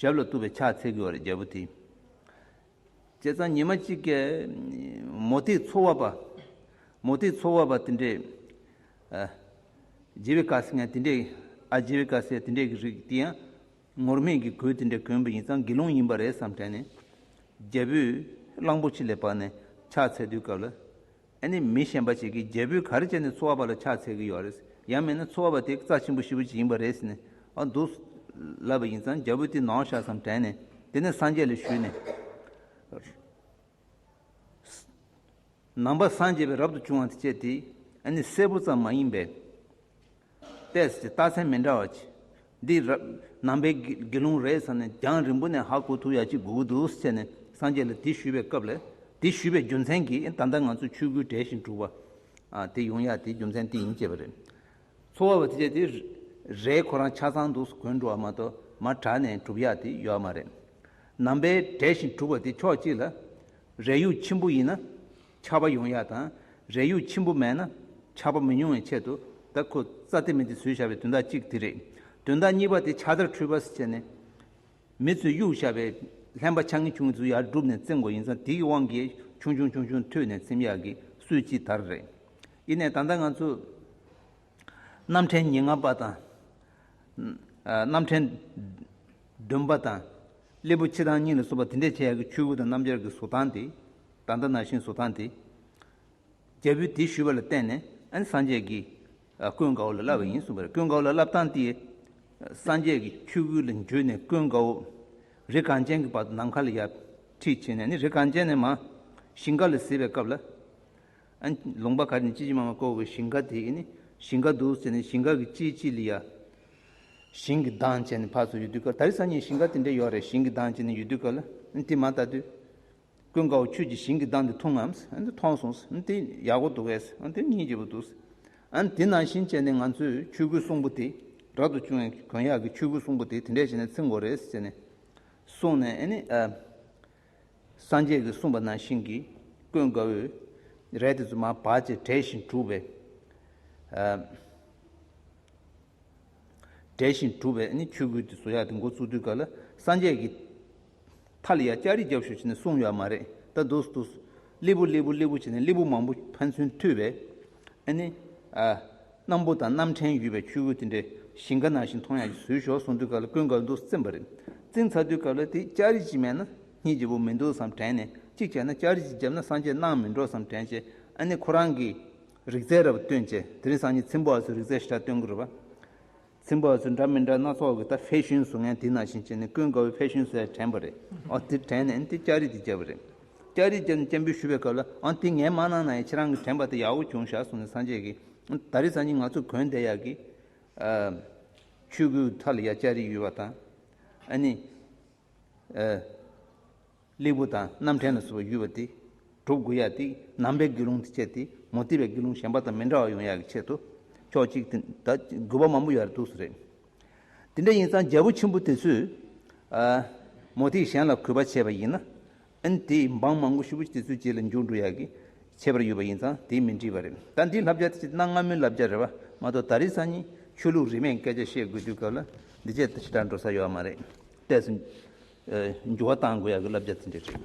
ཞབས་ལ་གཏུགས་པའི་ཕྱག་འཚལ་གྱུར་བ་རྒྱལ་པོ་དེ། བྱས་ཙང་ཉི་མ་གཅིག་གི། མོ་རྟའི་ཚོགས་བབས་པ། མོ་རྟའི་ཚོགས་བབས་པ་དེ་འདྲས། རྗེ་བི་ཀ་སི་ངས་དེ་འདྲས། ཨ་རྗེ་བི་ཀ་སིའི་དེ་འདྲས་ཀྱི་རིགས་དེ་ཡང། ངུར་སྨྲིག་གི་གོས་དེ་འདྲས་གྱོན་པ་ཡིན་ཙང་དགེ་སློང་ཡིན་པ་རེད་བསམ་དྲན་ནས། རྒྱལ་པོས་གླང་པོ་ཆེ་ལས་དཔགས་ནས་ཕྱག་འཚལ་དུས་སྐབས་ལ། ཨ་ནི་མི་གཞན་པ་ཞིག་གིས་རྒྱལ་པོའི་གར་སྤྱད་ནས་འཚོ་བ་པ་ལ་ཕྱག་འཚལ་གྱི་ཡོད་རེད། ཡང་མིན་ན་འཚོ་བ་པ་དེ་རྩ་ཆེན་པོ་ཞིག་བུ་ཅིག་ཡིན་པ་རེད་ཟེར་ནས་ཨ་འདུག། ལབ་པ་ཡིན་ཙང་རྒྱལ་པོ་དེ་ནང་ཤག་ཙམ་དྲན་ནས་དེ་ནས་སངས་རྒྱས་ལ་ཞུས་ནས། ནང་པ་སངས་རྒྱས་པའི་རབ་ཏུ་བྱུང་བ་དེ་སྤྱད་དེ། ཨ་ནི་གསལ་པོ་ཙམ་མ་ཡིན་པས། ཏེས་ཀྱི་རྟགས་མཚན་མི་འདྲ་བ་གྱིས། འདི་ནང་པའི་དགེ་སློང་རེད་བསམ་ནས་རྒྱང་རིང་པོ་ནས་ཧ་གོ་ཐུགས་ཡ་གཅིག་དགུ་དགུ་དུ་བྱས་ནས་སངས་རྒྱས་ལ་དེ་ཞུས་པའི་སྐབས་ལས། དེ་ཞུས་པའི་རྒྱུ་མཚན་གྱིས་ད་ལྟ་ང་ཚོས་ཆོས་སྐུའི་གྲལ་བཞིན་དྲུག་པ། དེ་ཡོང་ཡ་དེའི་རྒྱུ་མཚན་དེ་ཡིན་ཅེས་པ་རེད། ཚོ་བ་བ་བཅས་དེ་རེད་ཁོ་རང་ཆ་ཚང་འདུག་གོན་འགྲོ་བ་མ་གཏོགས་མ་དྲག་ནས་གྲུབ་ཡ་དེ་ཡོད་མ་རེད། ནང་པའི་གྲལ་བཞིན་དྲུག་པ་དེ་ཕྱོགས་གཅིག་ལ། རས་ཡུག་ཆེན་པོ་ཡིན་ན། ཆར་པ་ཡོང་ཡག་དང་རས་ཡུག་ཆེན་པོ་མེད་ན་ཆར་པ་མི་ཉུང་བའི་ཆེད་དུ་ད་ཁོ་རྩ་དེ་མི་དེ་ཟོས་བཞག་པའི་དོན་དག་གཅིག་དེ་རེད། དོན་དག་གཉིས་པ་དེ་ཆར་དར་འཕྲུལ་བསས་བྱས་ནས་མི་ཚོས་གཡུག་བཞག་པའི་ལྷན་པ་ཆ་ངེ་ཆུང་ངེ་ཚུར་ཡར་བསྒྲུབས་ནས་བཙེམས་དགོས་ཡིན་ཙང་དེ་གི་དབང་གིས་ཆུང་ཆུང་ཆུང་ཆུང་ཐོས་ནས་འཚེམ་ཡག་གི་སུས་ཅི་དར་རེད། ཡིན་ནས་ད་ལྟ་ང་ཚོས་སྣམ་ཕྲན་ཉིན་ལྔ་པ་དང། སྣམ་ཕྲན་བདུན་པ་དང། སླེ་པོ་ཕྱི་དང་གཉིས་ལ་བཟོ་པ་དེ་འདྲས་བྱས་ཡག་གི་ཆུ་བོ་དང་སྣམ་སྦྱར་གི་བཟོ་སྟངས་དེ། ད་ལྟ་ན་ཤིང་བཟོ་སྟངས་དེ། རྒྱལ་པོའི་སྡེས་ཞུས་པ་ལ་བརྟེན་ནས་ཨན་སངས་རྒྱས་ཀྱིས་ཀོན་དགའ་བོ་ལ་བསླབས་པ་ཡིན་གསུངས་པས་ཀོན་དགའ་བོ་ལ་བསླབ་སྟངས་དེ། སངས་རྒྱས་ཀྱི་ཆོས་སྐུ་ལ་འཇུས་ནས་ཀོན་དགའ་བོ་རི་གངས་ཅན་གྱི་བར་དུ་ནམ་མཁའ་ལ་ཡར་ཁྲིད་བྱས་ནས་ནི་རི་གངས་ཅན་ནས་མ་ཞིང་ཁ་ལ་གཟིགས་པའི་སྐབས་ལ། ཨན་ལུང་པ་གར་ནི་ཅི་ཅི་མ་མ་བསྐོར་བའི་ཞིང་ཁ་དེ་ནི་ཞིང་ཁ་འདུག་ཟེར་ནས་ཞིང་ཁ་གི་ཅི་ཅི་ལ་ཡར། ཞིང་གི་གདངས་ཅན་ནི་ཕར་ཚུར་ཡུལ་དུས་སྐབས་ད་རི་སངས་རྒྱས་ཞིང་ཁ་དེ་འདྲ་ཡོད་རེད་ཞིང་གི་གདངས་ཅན་ནི་ཡུལ་དུས་སྐབས་ལ་ཨན་དེ་མ་ལྟ་དུས། ཀུན་དགའ་བོ་ཁྱོད་ཀྱིས་ཞིང་གི་བདག་འདི་མཐོང་ངམ། མཐོང་སོང། དེ་ཡག་པོ་འདུག་གས། དེ་གཉིས་སྐྱིད་པོ་འདུག། དེ་ནང་བཞིན་བྱས་ནས་ང་ཚོས་ཆོས་གོས་སྲུང་པོ་དེ་རག་ཏུ་བཅུག་ནས་གོན་ཡག་གི་ཆོས་གོས་སྲུང་པོ་དེ་དེ་འདྲས་བྱས་ནས་ཚིག་མགོ་རེས་བཅད་ནས་སོང་ནས་ཨེ་ནི། སངས་རྒྱས་ཀྱིས་གསུངས་པ་ནང་བཞིན་གྱིས་ཀུན་དགའ་བོས་རས་དེ་ཚོ་མ་བག་ཅེས་བྲེད་བཞིན་བྲུགས་པས། བསྒྲལ་ཞིང་བསྒྲུབ་པས་ནི་ཆོས་སྐུའི་དེ་སོ་ཡག་དེ་མགོ་བཙུགས་དུས་ག་ལ་སངས་རྒྱས་ཀྱི། ཐ་ལི་ཡ་ལྕགས་རི་རྒྱབ་ཤོག་བྱས་ནས་གསུངས་ཡོད་མ་རེད་ད་དུས་སུ་དུས་སུ། ལི་བུ་ལི་བུ་ལི་བུ་བྱས་ནས་ལི་བུ་མང་པོ་ཕན་ཚུན་མཐུད་པས། ཨ་ནི། སྣམ་བུ་དང་སྣམ་ཕྲན་ཡོད་པའི་ཆོས་སྐུ་དེ་འདྲའི་ཞིང་ཁ་ནང་བཞིན་མཐོང་ཡག་གི་ཟོལ་ཞོག་གསུངས་དུས་ག་ལ་ཀུན་དགའ་བོ་འདུག་སེམས་པ་རེད། བཙིར་ཚར་དུས་ག་ལ་དེ་ལྕགས་རི་གཅིག་མེད་ན་གཉིས་བརྗེ་པོ་མི་འདུག་བསམ་དྲན་ནས་གཅིག་བྱས་ན་ལྕགས་རི་གཅིག་བརྒྱབ་ན་སངས་རྒྱས་གནང་མི་འགྲོ་བསམ་དྲན་བྱས་ཨ་ནི་ཁོ་རང་གི། རིག་རྩལ་རབ་སྟོན་བཅས་དེ་རིང་སང་ཉིན་ཚིམ་བོ་ཨ་ཟུར་རིག་རྩལ་ཤེས་རབ་སྟོན་དགོས་པ། ཚིམ་བོ་ཨ་ཟུར་འདྲ་མི་འདྲ་སྣ་ཚོགས་ཀྱི་ད་ཕེ་ཤུན་བཟོ་མཁན་དེ་ན་བཞིན་བྱས་ནས་ཀུན་དགའ་བོའི་ཕེ་ཤུན་ཟེར་དྲན་པ་རེད་ཨང་དེ་དྲན་ནས་དེ་ལྕགས་རིགས་དེ་བསྐྱལ་བ་རེད། ལྕགས་རིགས་བསྐྱལ་ནས་སྐྱེན་འབུལ་ཞུ་བའི་སྐབས་ལ་ཨང་དེ་ངའི་མ་ནང་ན་ཡང་ཁྱེད་རང་གིས་དྲན་པ་དེ་ཡག་པོ་བྱུང་ཞག་གསུངས་ནས་སང་བྱས་ཀི། ད་རིང་སང་ཉིན་ང་ཚོ་གོན་བདེ་ཡག་གི། ཆུ་སྐུའི་མཐའ་ལ་ཡང་ལྕགས་རིགས་ཡོད་པ་དང། ཨ་ནི། གླེགས་བུ་དང་རྣམ་འཕྲེང་ལ་བཟོ་བའི་ཡུལ་བ་སྟེ། གྲུབ་དགུ་ཡ་ཏིག་ནང་པའི་དགེ་སློང་དེ་སྤྱད་དེ་མུ་སྟེགས་པའི་དགེ་སློང་གཞན་པ་དང་མི་འདྲ་བ་ཡོང་ཡག་གི་ཆེད་དུ། ཕྱོགས་གཅིག་དེ་དག་དགོས་པ་མང་པོ་ཡོད་འདུག་རེད། དེ་འདྲ་ཡིན་ཙང་རྒྱལ་པོ་ཆེན་པོ་དེ་ཚོས། མུ་སྟེགས་གཞན་ལ་གུས་པ་བྱས་པ་ཡིན་ན། དེས་འབངས་མང་པོ་ཤི་བོ་དེ་ཚོའི་རྗེས་ལ་འཇུག་འགྲོ་ཡག་གི་ཁྱད་པར་ཡོད་པ་ཡིན་ཙང་དེས་མི་འགྲིག་པ་རེད། ད་འདིའི་ལྷ་བྱ་དེ་ཆེས་གནའ་སྔ་མོའི་ལྷ་བྱ་རེད་བ་མ་གཏོགས་ད་རེས་སང་ཉིན་ཆོས་ལུགས་རིས་མེད་སྐད་ཆ་བཤད་དགོས་དུས་སྐབས་ལ་འདི་བྱས་ད་བྱས་གྲགས་འགྲོ་ས་ཡོད་མ་རེད་བལྟས་སོ། འགྱུར་བ་གཏང་དགོས་ཡག་གི་བསླབ་བྱ་དེ་འདྲས་རེད།